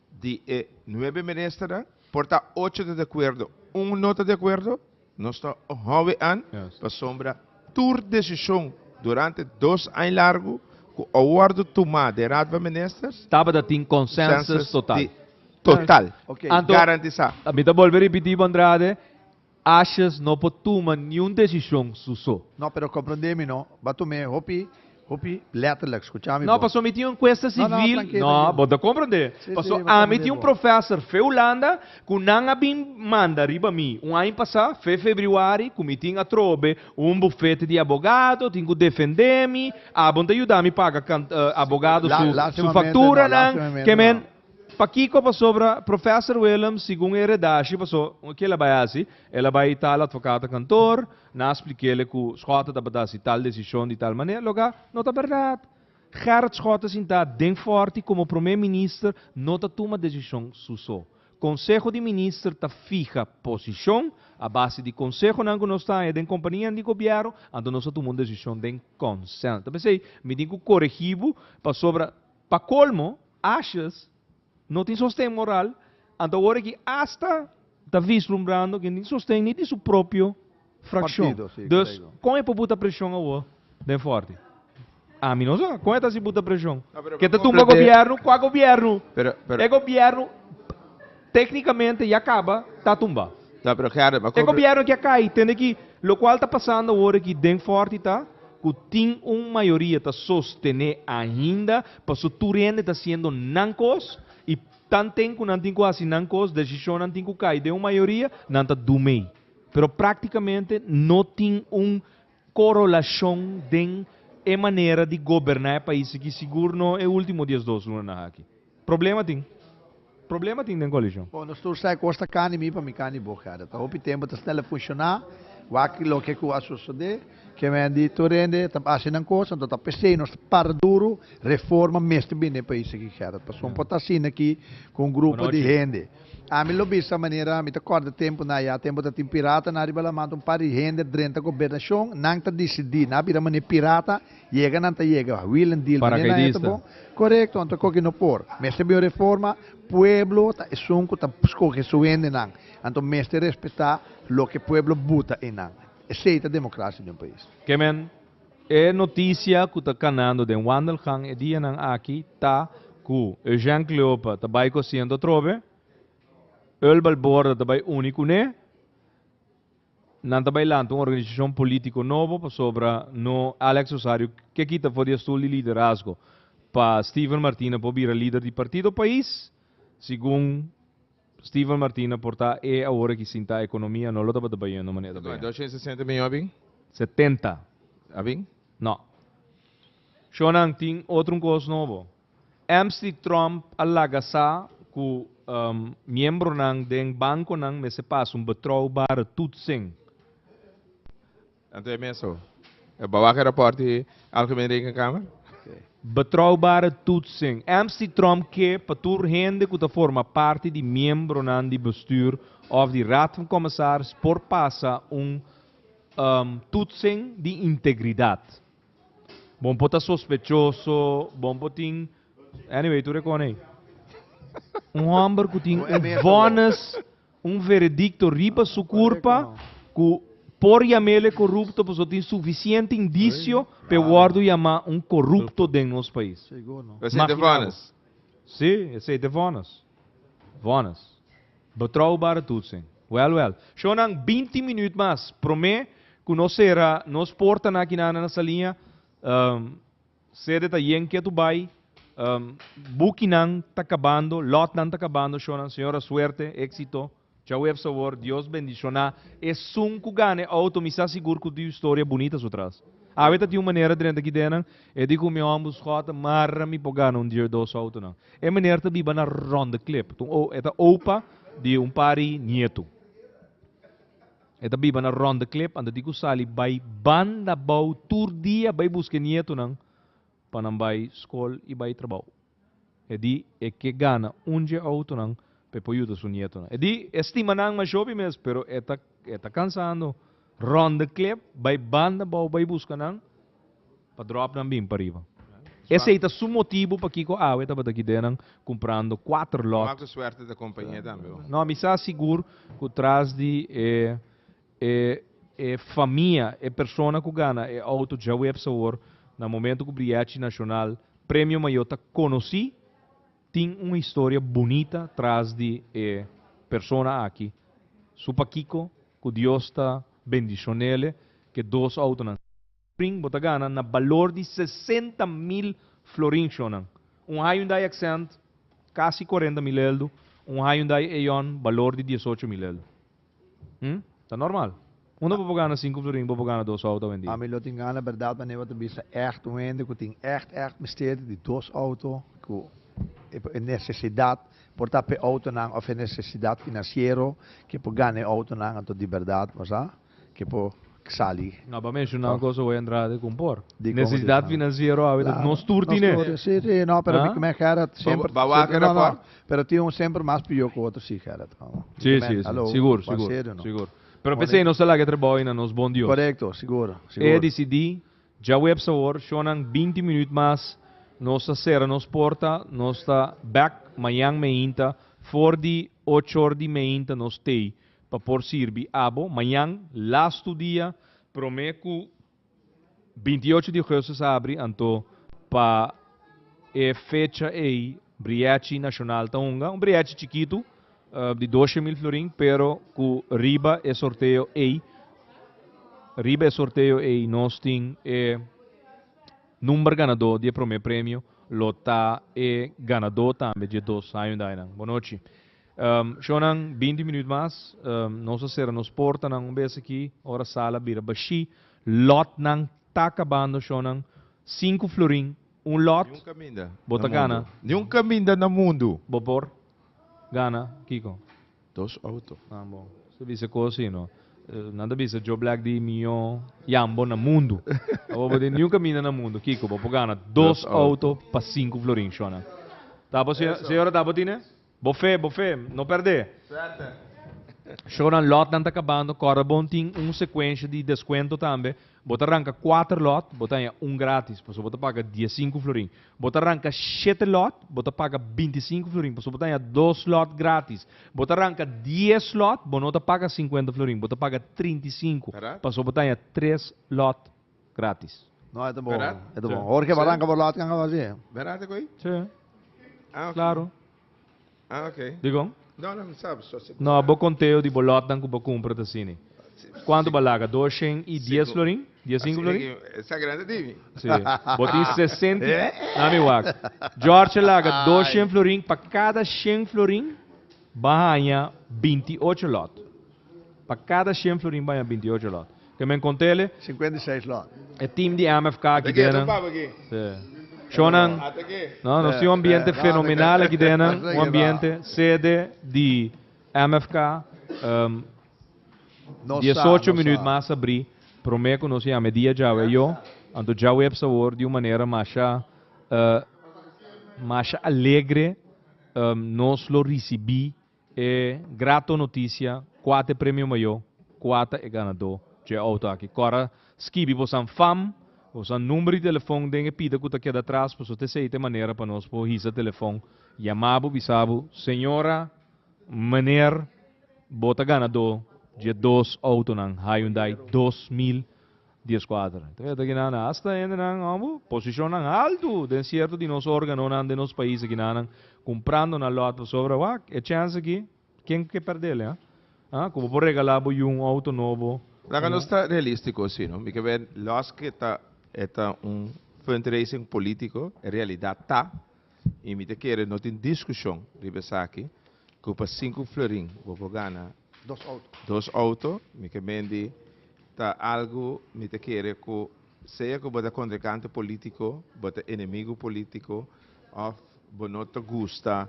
di e nuebe ministernan, por ta ocho ta di akuerdo, un no ta di akuerdo, Nos ta hopi an pasobra tur desishon durante dos aña largu ku a wòrdu tumá den Raad van Ministers, Tabata tin konsensus total. Total. Garantisá. Anto, mi ta bolbe ripití bo Andrade, Ashes no por tuma niun desishon su so. No, pero komprondé mi no. Bo a tuma e hopi. Hopi letterlijk, skucha mi bo. No, paso mi tin un cuesta civil. No, no, trankil, trankil. No, bo ta comprende. Si, si, mi ta comprende bo. Paso ami tin un professor fe Hulanda cu nan a bin manda riba mi un aña pasa, fe februari, cu mi tin atrobe un bufete di abogado, tin cu defende mi, abon ta yuda mi paga cant, abogado su, su facturanan, Lastimamente no, lastimamente kemen. no. Pakico? Pasobra Professor Willem, segun e redashi, paso, kila bay haci? El a bay ta al advocatenkantoor, Na splikéle ku Schotten tabata si tal desishon di tal manera, loke a no ta bèrdat. Gerrit Schotten sintá den fòrt i komo promé minister no ta tuma desishon su so. Konseho di minister ta fiha posishon a base di konsehonan ku nos ta haña den kompanianan di gobièrnu, anto nos ta tuma un desishon den konsèl. Ta p'esei mi tin ku koregí bo, pasobra pa kolmo, ashes, No tin sosten moral, anto awor aki asta ta vislumbrando ke no tin sosten ni di su propio frakshon. Dus, kon e por buta preshon awor den Fòrti? Ami no sa kon e ta hasi buta preshon. Ke ta tumba gobièrnu? Kua gobièrnu? E gobièrnu teknikamente ya kaba ta tumba. E gobièrnu aki a kai. Tende ki lokual ta pasando awor aki den Fòrti ta ku tin un mayoria ta sostené ainda Paso tur hende ta siendo nan kos y tanten cu nan tin cu haci nan kos, decisionnan tin cu cay den un mayoria, nan ta du mey. Pero practicamente no tin un corolacion den e manera di goberna e pais aki, sigur no e ultimo dies dos lunanan aki. Problema tin. Problema tin den koalishon. Bo nos tur sa e kos ta kani mi pa mi kani bo kada ta hopi tempo ta snel a funshoná wak loke ku a sosodé ke men di tur hende ta basi nan kos anto ta p'esei nos ta para duru reforma mester bini den e pais aki Gerard pasobra por ta asina aki ku un grupo di hende ami lo bisa manera mi ta kòrda tempunan ayá tempu ta tin piratanan riba la manta un par di hende drenta gobernashon nan ta disidí nan a bira manera pirata Yega nan ta yega a wheel and deal manera nan e ta bon correcto anto con que no por mester bin un reforma pueblo ta esun cu ta scoge su hende nan anto mester respeta loke pueblo buta eynan esey ta democracia den un pais. Ke men, e noticia cu ta canando den Wandelgang e dianan aki ta cu Eugène Cleopa ta bay cu asiento atrobe, Eul Balborda ta bay uni cune, Nan ta bai lanta un organisashon polítiko nobo pasobra no Alex Osario ke kita for di e stul di liderazgo pa Steven Martina por bira lider di partido pais. Segun Steven Martina por ta e awor aki sinta ekonomia no lo tabata bayendo manera ta bayendo. Doshen sesenta miyon a bin? Setenta. A bin? No. Shonnan tin otro un kos nobo. Msty Trump a laga sa cu miembronan den banconan mester pasa un betrouwbare toetsing. Anto e mes so. E ba waak e rapport di Algemene Rekenkamer? Betrouwbare toetsing. Msty Trump ke pa tur hende cu ta forma parti di miembronan di bestuur of di Raad van Commissaris por pasa un toetsing di integridad. Bon por ta sospechoso, bon por tin. Anyway, tur e con ey. Un homber cu tin un vonnis, un veredicto riba su curpa, cu por yamele corrupto paso tin suficiente indicio pe wordo yama un corrupto den nos pais. Esey te vonnis? Si, esey te vonnis. Vonnis. Betroubare tutsen. Wèl wèl. Shonnan binti minüt mas promé ku nos sera nos portanan akinan na Saliña, sede ta yen ketu bai, bukinan ta kabando, lòtnan ta kabando, shonnan señora suerte, éksito. Djaweps awor Dios bendiciona esun cu gana e auto mi sa sigur cu ta tin un storia bunita su tras. Awe ta tin un manera drenta Gidenan e di cu mi homber Scott ta marra mi pa gana un di e dos autonan. E meneer ta biba na Rondeklip. E ta opa di un par di nieto. E ta biba na Rondeklip anto di cu sali bay banda bou tur dia bay busca e nietonan pa nan bay school y bay trabao. E di e ke gana un dje outonan pa e por yuda su nietonan. E di e stima nan mashopi mes, pero e ta e ta kansando rònde klep, bai banda bou bai buska nan pa dròp nan bin pariba. Esei ta su motibu pakiko awe tabata kidenan kumprando kuater lòt. Maka suerte ta kompainia tambe. No, mi sa sigur ku tras di e E e famia, e persona ku gana e outo djaweps awor na momento ku Briechi Nashonal Premio Mayo ta konosí, tin un historia bunita tras di e persona aki. Su pakiko ku Dios ta bendishonéle ke dos outonan. Prin, bo ta gana na balor di sesenta mil florinshonnan, un Hyundai Accent casi cuarenta mil eldu, un Hyundai Eon balor di diesocho mil eldu. Hm? Ta normal. Unda bo por gana sinku florin, bo por gana dos auto awendia. Ami lo tin gana berdad manera bo ta bisa echt un hende cu tin echt echt mester di dos auto, cu e por e necesidad por ta p'e autonan of e necesidad financiero ke por gana e autonan, anto di berdad, nos a. ke por sali. No ba menshoná un kos oe Andrade kon por. Nesesidat finansiero awe ta nos tur tine. Si si no pero mi kme Gerard semper Ba wak no no pero tin un semper mas pio ku otro si Gerard komo si si si sigur sigur sigur pero p'esei nos ta laga e trabou ei na nos bon Dios korekto sigur sigur e disidi djaweps awor shonang binti minüt mas nos ta sera nos porta nos ta bèk mañan meinta for di ocho or di meinta nos tei. Pa por sirbi abo mañan, lastu dia, promé ku binti y ocho di ogestu sa abri, anto pa e fecha ei Brièchi Nashonal ta hunga un brièchi chikitu di doshe mil florin pero ku riba e sorteo ei riba e sorteo ei nos tin e number ganadó di e promé premio lo ta e ganadó tambe dje dos Hyundainan. Bonochi. Shownan, binti minuut mas, nos a sera nos portanan un bes aki, ora sal a bira bashí, lòtnan ta kabando, shownan, sinku florin un lòt, bo ta gana, Ni un kaminda na mundu. Bo por gana kiko? Dos outo. Ah, bo ta bisa ku si no. Nan ta bisa Joe Black di mihó yambo na mundu. Abo bo tin ni un kaminda na mundu, kiko? Bo por gana dos outo pa sinku florin, shownan. Ta bo, señora, ta bo tine? Bo fe, bo fe, no perdé! Suerte! Shownan lotnan ta kabando, kòrrebon tin un sekuensha di deskuento tambe, bo ta ranka kuater lòt, bo ta haña un grátis, pasobra bo ta paga dies sinku florin. Bo ta ranka shete lòt, bo ta paga binti sinku florin, pasobra bo ta haña dos lòt grátis. Bo ta ranka dies lòt, bo no ta paga sinkuenta florin, bo ta paga trinta i sinku, pasobra bo ta haña tres lòt. gratis. No e ta bon. Verdad? E ta bon. Jorge Baran ka por lot kan haba así. Verdad te koy? Sí. Ah, okay. Claro. Ah, okay. Dikon? No, no, mi sab. So, si No, bo conteo di bo lotnan ku bo kumpra ta sini. Kuantu bo a laga? Dos shen i dies Sinku. florin? Dies sinku Así florin? que esa grande divi. Sí. Bo tin sesenta. Eh? Nami wak. George a laga dos Ay. shen florin pa kada shen florin. Ba haña binti i ocho lòt. Pa kada shen florin ba haña binti i ocho lòt. Ke men kontele? Sinkuenta i seis lòt. E tim di MFK aki dena. Shonnan, no, nos tin un ambiente fenomenal aki dena. Un ambiente sede di MFK. Diesocho minüt mas ta bri promé ku nos yama e dia djawe e yo. Anto djawe e bsa wor di un manera masha, masha alegre Nos lo risibí e grato notisia kua ta e premio mayo, kua ta e ganadó dje outo aki. Kora skibi boso anfam, boso an number di telefon den e pida ku ta keda atras paso ta esei ta e manera pa nos por hisa telefon, yama bo bisa bo, Señora, meneer, bo ta ganadó dje dos outonan Hyundai dos mil Dies kuater. Ta mira ta kinanan hasta hendenan abo posishonnan haltu den sierto di nos organonan den nos pais a kinanan kumprando nan lòt pasobra wak e chèns aki ken ke pèrdel e? Haa ku bo por regalá bo yu un outo nobo Laga nos ta realístiko si no. Mi ke wen lòs ke ta e ta un fundraising polítiko e realidat ta i mi ta kere no tin diskushon riba esaki ku pa sinku florin bo por gana Dos auto. Dos auto, mi ke mendi ta algu mi ta kere ku sea ku bo ta kontrinkante polítiko, bo ta enemigu polítiko òf bo no ta gusta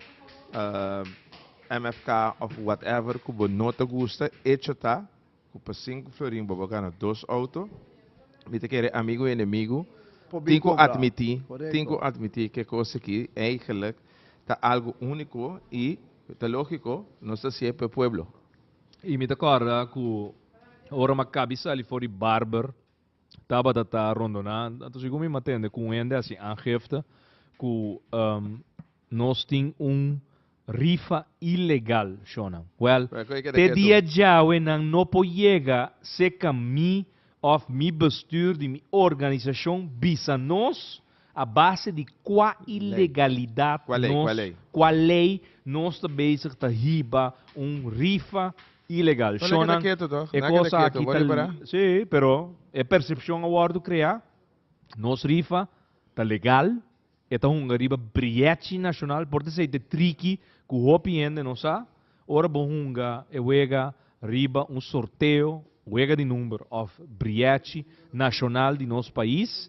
MFK òf whatever ku bo no ta gusta, echo ta ku pa sinku florin bo a gana dos auto. Mi ta kere amigu i enemigu tin ku atmití, tin ku atmití ke kos aki eigelik ta algu úniko i. Ta lógiko, nos ta sié p'e pueblo. I mi ta kòrda ku ora Makabi sali for di barber tabata ta rondoná, anto sigur mi m'a tende ku un hende a hasi aangifte ku nos tin un rifa ilegal, shònan. Wèl, te dia djawe nan no por yega seka mi òf mi bestür di mi organisashon bisa nos, A base di kua ilegalidat nos, kua lei nos ta bezig ta hiba un rifa ilegal? Shonnan, e cosa aki ta legal. Sí, pero e percepcion a wordo crea, nos rifa ta legal, e ta hunga riba briechi nacional, por ta esei ta tricky cu hopi hende no sa. Ora bo hunga e wega riba un sorteo, wega di number of briachi nashonal di nos pais,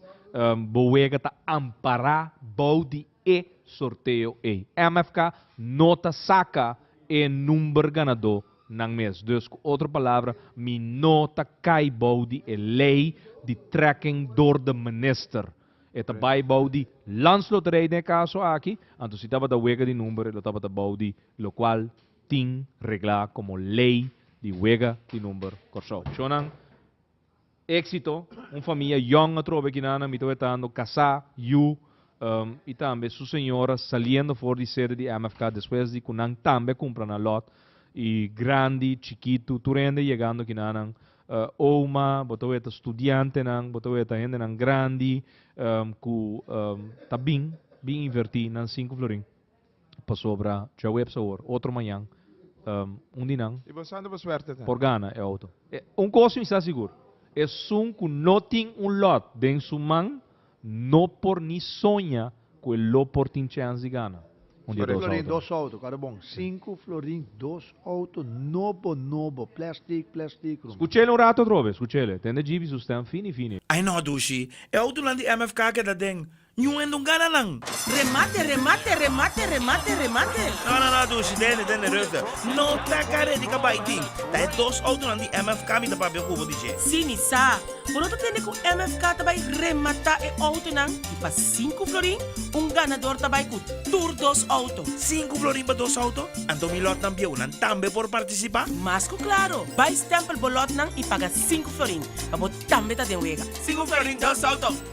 bo wega ta ampará bou di e sorteo ei. MFK no ta saka e number ganadó nan mes. Dus ku otro palabra mi no ta kai bou di e lei di tracking dor de minister. E ta bai bou di Lans Loterij den e kaso aki, anto si tabata wega di number e lo tabata bou di lokual tin reglá komo lei di wega di number Kòrsou. Shownan Éksito, un famia yòn atrobe e kinanan mi ta wetando, kasá, yu, i tambe su señora saliendo for di sede di MFK despues di ku nan tambe kumpra nan lòt, i grandi, chikitu, tur hende yegando kinanan. Oma, bo ta weta studiantenan, bo ta weta hendenan grandi ku ta bin, bin invertí nan sinku florin. Pasobra djaweps awor, otro mañan, un di nan por gana e outo. Un kos mi sa sigur, esun ku no tin un lòt den su man, No por ni soña cu e lo por tin chance di gana un di e dos auto no. Cuadro bon. Cinco florin dos auto nobo nobo, plastic plastic ruman. Scuchele un rato atrobe, scuchele. Tende Jeep y su stem fini fini. Ay no dushi, e autonan di MFK a keda den Ñu hende un gana nan. Remate, remate, remate, remate, remate. No no no dushi, tende, tende, rustig. No ta ka redi ka bay tin. Ta e dos autonan di MFK mi ta papia cu bo di dje. Sí mi sa. Bo no ta tende ku MFK ta bai rematá e outonan i pa sinku florin un ganador ta bai ku tur dos outo? Sinku florin pa dos outo? Anto mi lòtnan bieunan tambe por partisipá? Mas ku klaro, bai stèmpel bo lòtnan i paga sinku florin pa bo tambe ta den wega. Sinku florin, dos outo!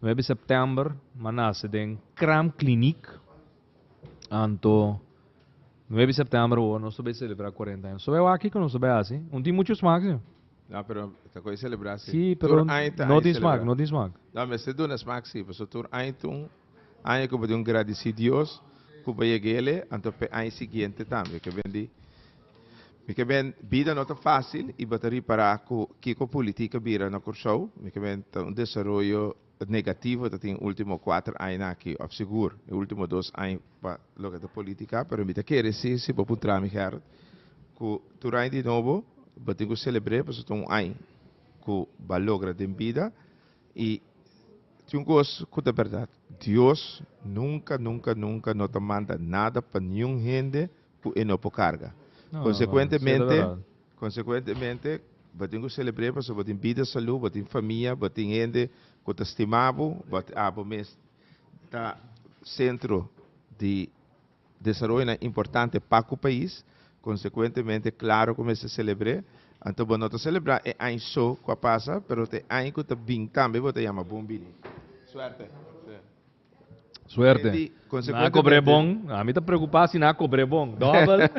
Nuebe September m'a nace den Kram Kliniek. Anto nuebe September awor nos ta bai celebra cuarenta aña. Nos ta bai wak kico nos ta bai haci. Un tin mucho smaak, señor. No, pero ta con e celebra si. Si, pero Tur aña ta no hay tin smaak, celebra. no tin smaak. No, mester duna smaak si, paso tur aña ta un aña cu bo tin gradici Dios cu bo yega ele, anto p'e aña siguiente tambe. Ke ben di. Mikaben bida no ta fásil i bo ta ripará ku kiko politik a bira na Kòrsou. Mikaben ta un desaroyo negativo ta tin último kuater aña aki òf sigur e último dos aña pa loke ta polítika. Pero mi ta kere si si bo puntrá mi Gerrit ku tur aña di nobo bo tin ku selebr'é pasobra ta un aña ku b'a logra den bida i tin un kos ku ta bèrdat Dios nunka nunka nunka no ta manda nada pa niun hende. ku e no por karga. Konsekuentemente, konsekuentemente bo tin ku selebr'é pasobra bo tin bida, salú, bo tin famia, bo tin hende ku ta stima bo, a bo mes ta sentro di desaroyonan importante pa ku pais, konsekuentemente klaro ku bo mester selebr'é. Anto bo no ta selebrá e aña so ku a pasa, pero ta e aña ku ta bin tambe bo ta yama bon bini. Suerte! Suerte. Enti, Na consecuentemente. cobre bon. Ami ta preocupa si na cobre bon. Double.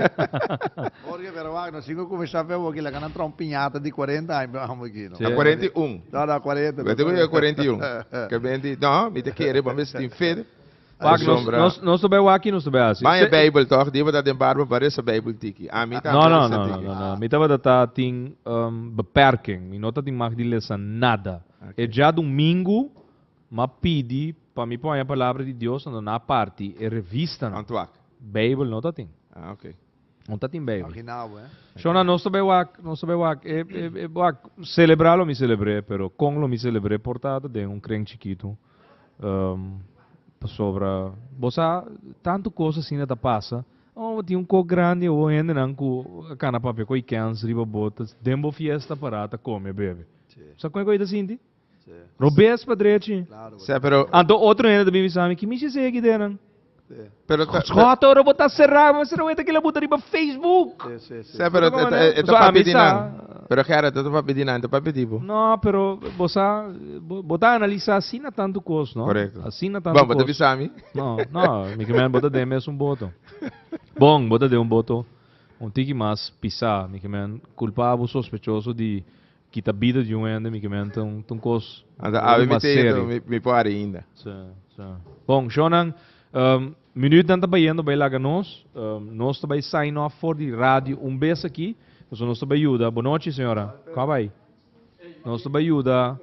Jorge, pero wak, nos cinco cuminsa fe awor, kilaga nan traha un piñata di cuarenta aña pa amo aki, no? Sí. Na cuarenta i un. No, na cuarenta. Wete cu yega cuarenta i un. Ke be enti, no, mi ta kere bo mes tin fe. Wak, nos, Ashombra. nos, nos ta bay wak aki, nos ta bay haci. Baña Se- Bijbel toch, di tabata den barba pa resa Bijbel tiki. Ami ta No, no, resa no, no, tiki. no, no. Mi tabata ta tin ehm, beperking. Mi no ta tin mag di lesa nada. E Oké. dja domingo, M'a pidi pa mi por haña Palabra di Dios anto na parti e revistanan. Anto ak? Bijbel no ta tin. Ah, ok. No ta tin Bijbel. Aki na awor, eh? Sho na nos ta bai wak, nos ta bai wak. E, e, e wak, celebra lo mi celebr'é, pero con lo mi celebr'é por ta ta den un kren chikitu. Um, pasobra, bo sa, tantu cos asina ta pasa. Oh, bo tin un cos grandi awor, hendenan cu a cana papia cu a ikens riba bo, ta den bo fiesta para ta come a bebe. Sí. Sa con e cu ei ta sinti? Robes pa drechi. Sea, pero. Anto otro hende ta bin bisa mi, ki mishi sey aki denan? Pero ta, Scott, ora bo ta será, mas será weta kila buta riba Facebook. Sea, pero ta, ta, ta, ta papi dinan. Pero Gerard, ta, ta papi dinan, ta papi di bo. No, pero bo sa, bo, bo ta analiza así na tanto cos, no? Correcto. Así na tanto cos. Bon, bo ta bisa mi? No, no, mi que men, bo ta den mes un boto. Bon, bo ta den un boto, un tiki mas pisá, mi que men, culpabo, sospechoso di. Kita bida di un hende mi kimen ta un kos ori mas serio. Mi por ari inda. Sí, sí. Bon, shownan, minuutnan ta bayendo bai laga nos. Nos ta bai sign off for di radio un bes aki, pasobra nos ta bai yuda. Bonochi, señora. Kua bai? Nos ta bai yuda.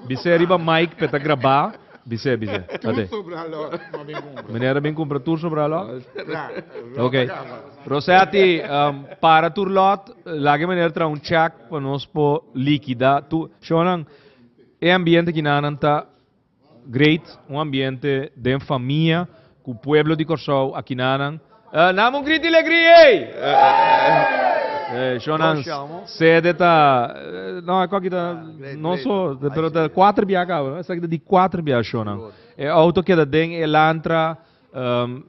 Bis'é riba mic p'e ta grabá, bis'é, bis'é. Tur sobra lò m'a bin kumpra. Meneer a bin kumpra tur sobra lò? Tra, lò ta kaba. Ok. Rosetti, para tur lòt, laga e meneer traha un chèk pa nos por likidá tur. Shownan, e ambiente kina nan ta Great un ambiente den famia cu pueblo di Corsou akinanan eh name un grit di legri ey Shon nan sede ta no eko aki ta no so pero ta cuater bia cabo no esaki ta di cuater bia Shon nan e auto keda den e elantra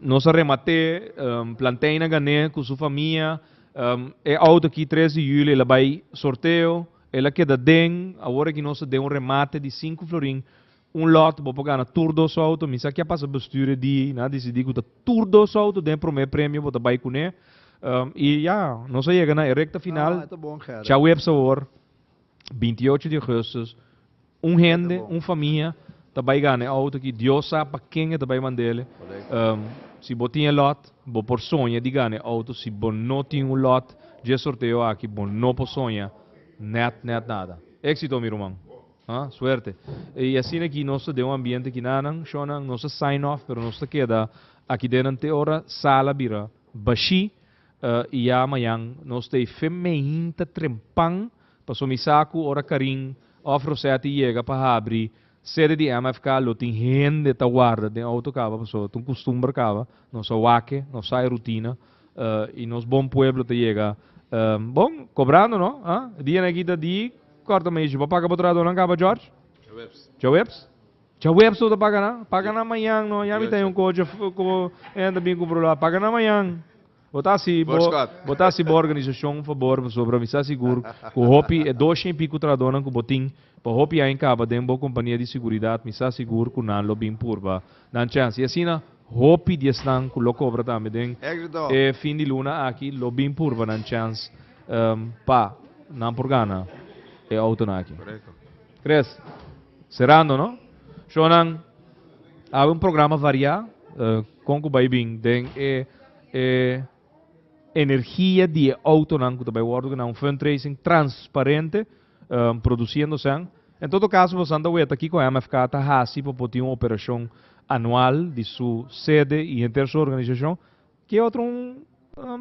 nos a remate Planteina Gane cu su famia e auto aki tres di julio ela bay sorteo. El a keda den, awor aki nos ta den un remate di sinku florin, un lot, bo por gana tur dos su auto, mi sa kia pasa bestuur e di, nan a disidi ku ta tur dos su auto den e prome premio bo ta bai kuné, i ya, nos a yega na e rekta final, Chawebs awor, binti y ocho di ogustus. Un hende, un famia ta bai gana e auto aki, Dios sa pa ken e ta bai manda el. Si bo tin e lot, bo por soña di gana e auto. Si bo no tin un lot, dje sorteo aki bo no por soña nèt, nèt nada. Éxito mi ruman. Suerte. I asina aki nos ta den un ambiente aki nanan, shònan, nos a sign off pero nos ta keda aki dennan te ora sala bira bashí i ya mañan nos ta ei femein ta trempan Paso mi sa cu ora Karin of Rossetti yega pa habri sede di MFK lo tin hende ta warda den auto caba paso ta un custumber caba, nos a wake, nos sa e rutina y nos bon pueblo ta yega bon cobrando no, ha? E dia na e kita di corta mi dici bo a paga bo trahadonan caba George? Djaweps. Djaweps lo ta paga nan? Paga nan mañan no, ya mi ta hay un coche cu bo hende ta bini cu bro lo a paga nan mañan. Bo ta hasi bo bo ta hasi bo organisashon un fabor pasobra mi sa sigur ku hopi e dosha i piku trahadónan ku bo tin pa hopi aña kaba den bo kompania di seguridat mi sa sigur ku nan lo bin purba nan chèns i asina hopi di esnan ku lo kobra tambe den e fin di luna aki lo bin purba nan chèns pa nan por gana e outonan aki. Tres. Serando no. Shownan a habi un programa variá kon ku bai bin den e e energia di e outonan ku ta bai wòrdu keda un fundraising transparente produsiendo esei. En todo kaso bosan ta weta kiko MFK ta hasi pa por tin un operashon anual di su sede i henter su organisashon Ke otro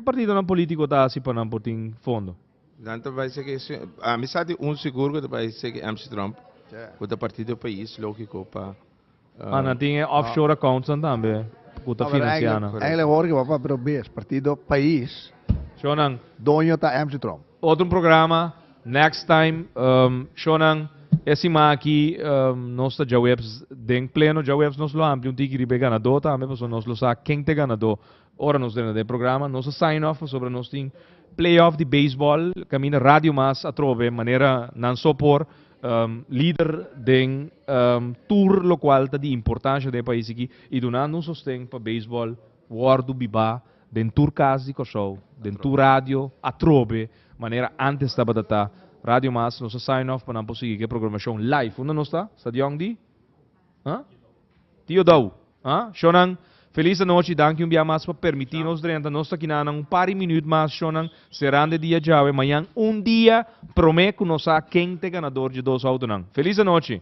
partidonan politico ta haci pa nan por tin fondo? Nan ta bai seki si, ami sa di un sigur cu ta bai seki MC Trump, cu ta partido pais, logico pa. Ma nan tin e offshore accounts nan tambe cu ta financia nan. Eigenlijk hoor ik e wou pa probeer, partido pais, doño ta MC Trump. Otro programa next time shonan e sima aki nos ta djaweps den pleno djaweps nos lo ampli un tiki riba e ganadó tambe pasobra nos lo sa ken ta e ganadó ora nos drenta den e programa nos a sign off pasobra nos tin play off di baseball caminda radio mas atrobe manera nan so por lider den tur locual ta di importancia den e pais aki y dunando un sosten pa baseball Wòrdu bibá den tur kas di Kòrsou, den tur radio, atrobe manera ántes tabata ta. Radio Mas nos a sign off pa nan por sigui ku e programashon live. Unda nos ta? Stadion di? Ha? Tio Dou. Ha? Shònan, felis anochi. Danki un bia mas pa permití nos drenta. Nos ta kina nan un par di minüt mas, shònan, serando e dia djawe. Mañan un dia promé ku nos sa ken ta e ganador dje dos outonan. Felis anochi!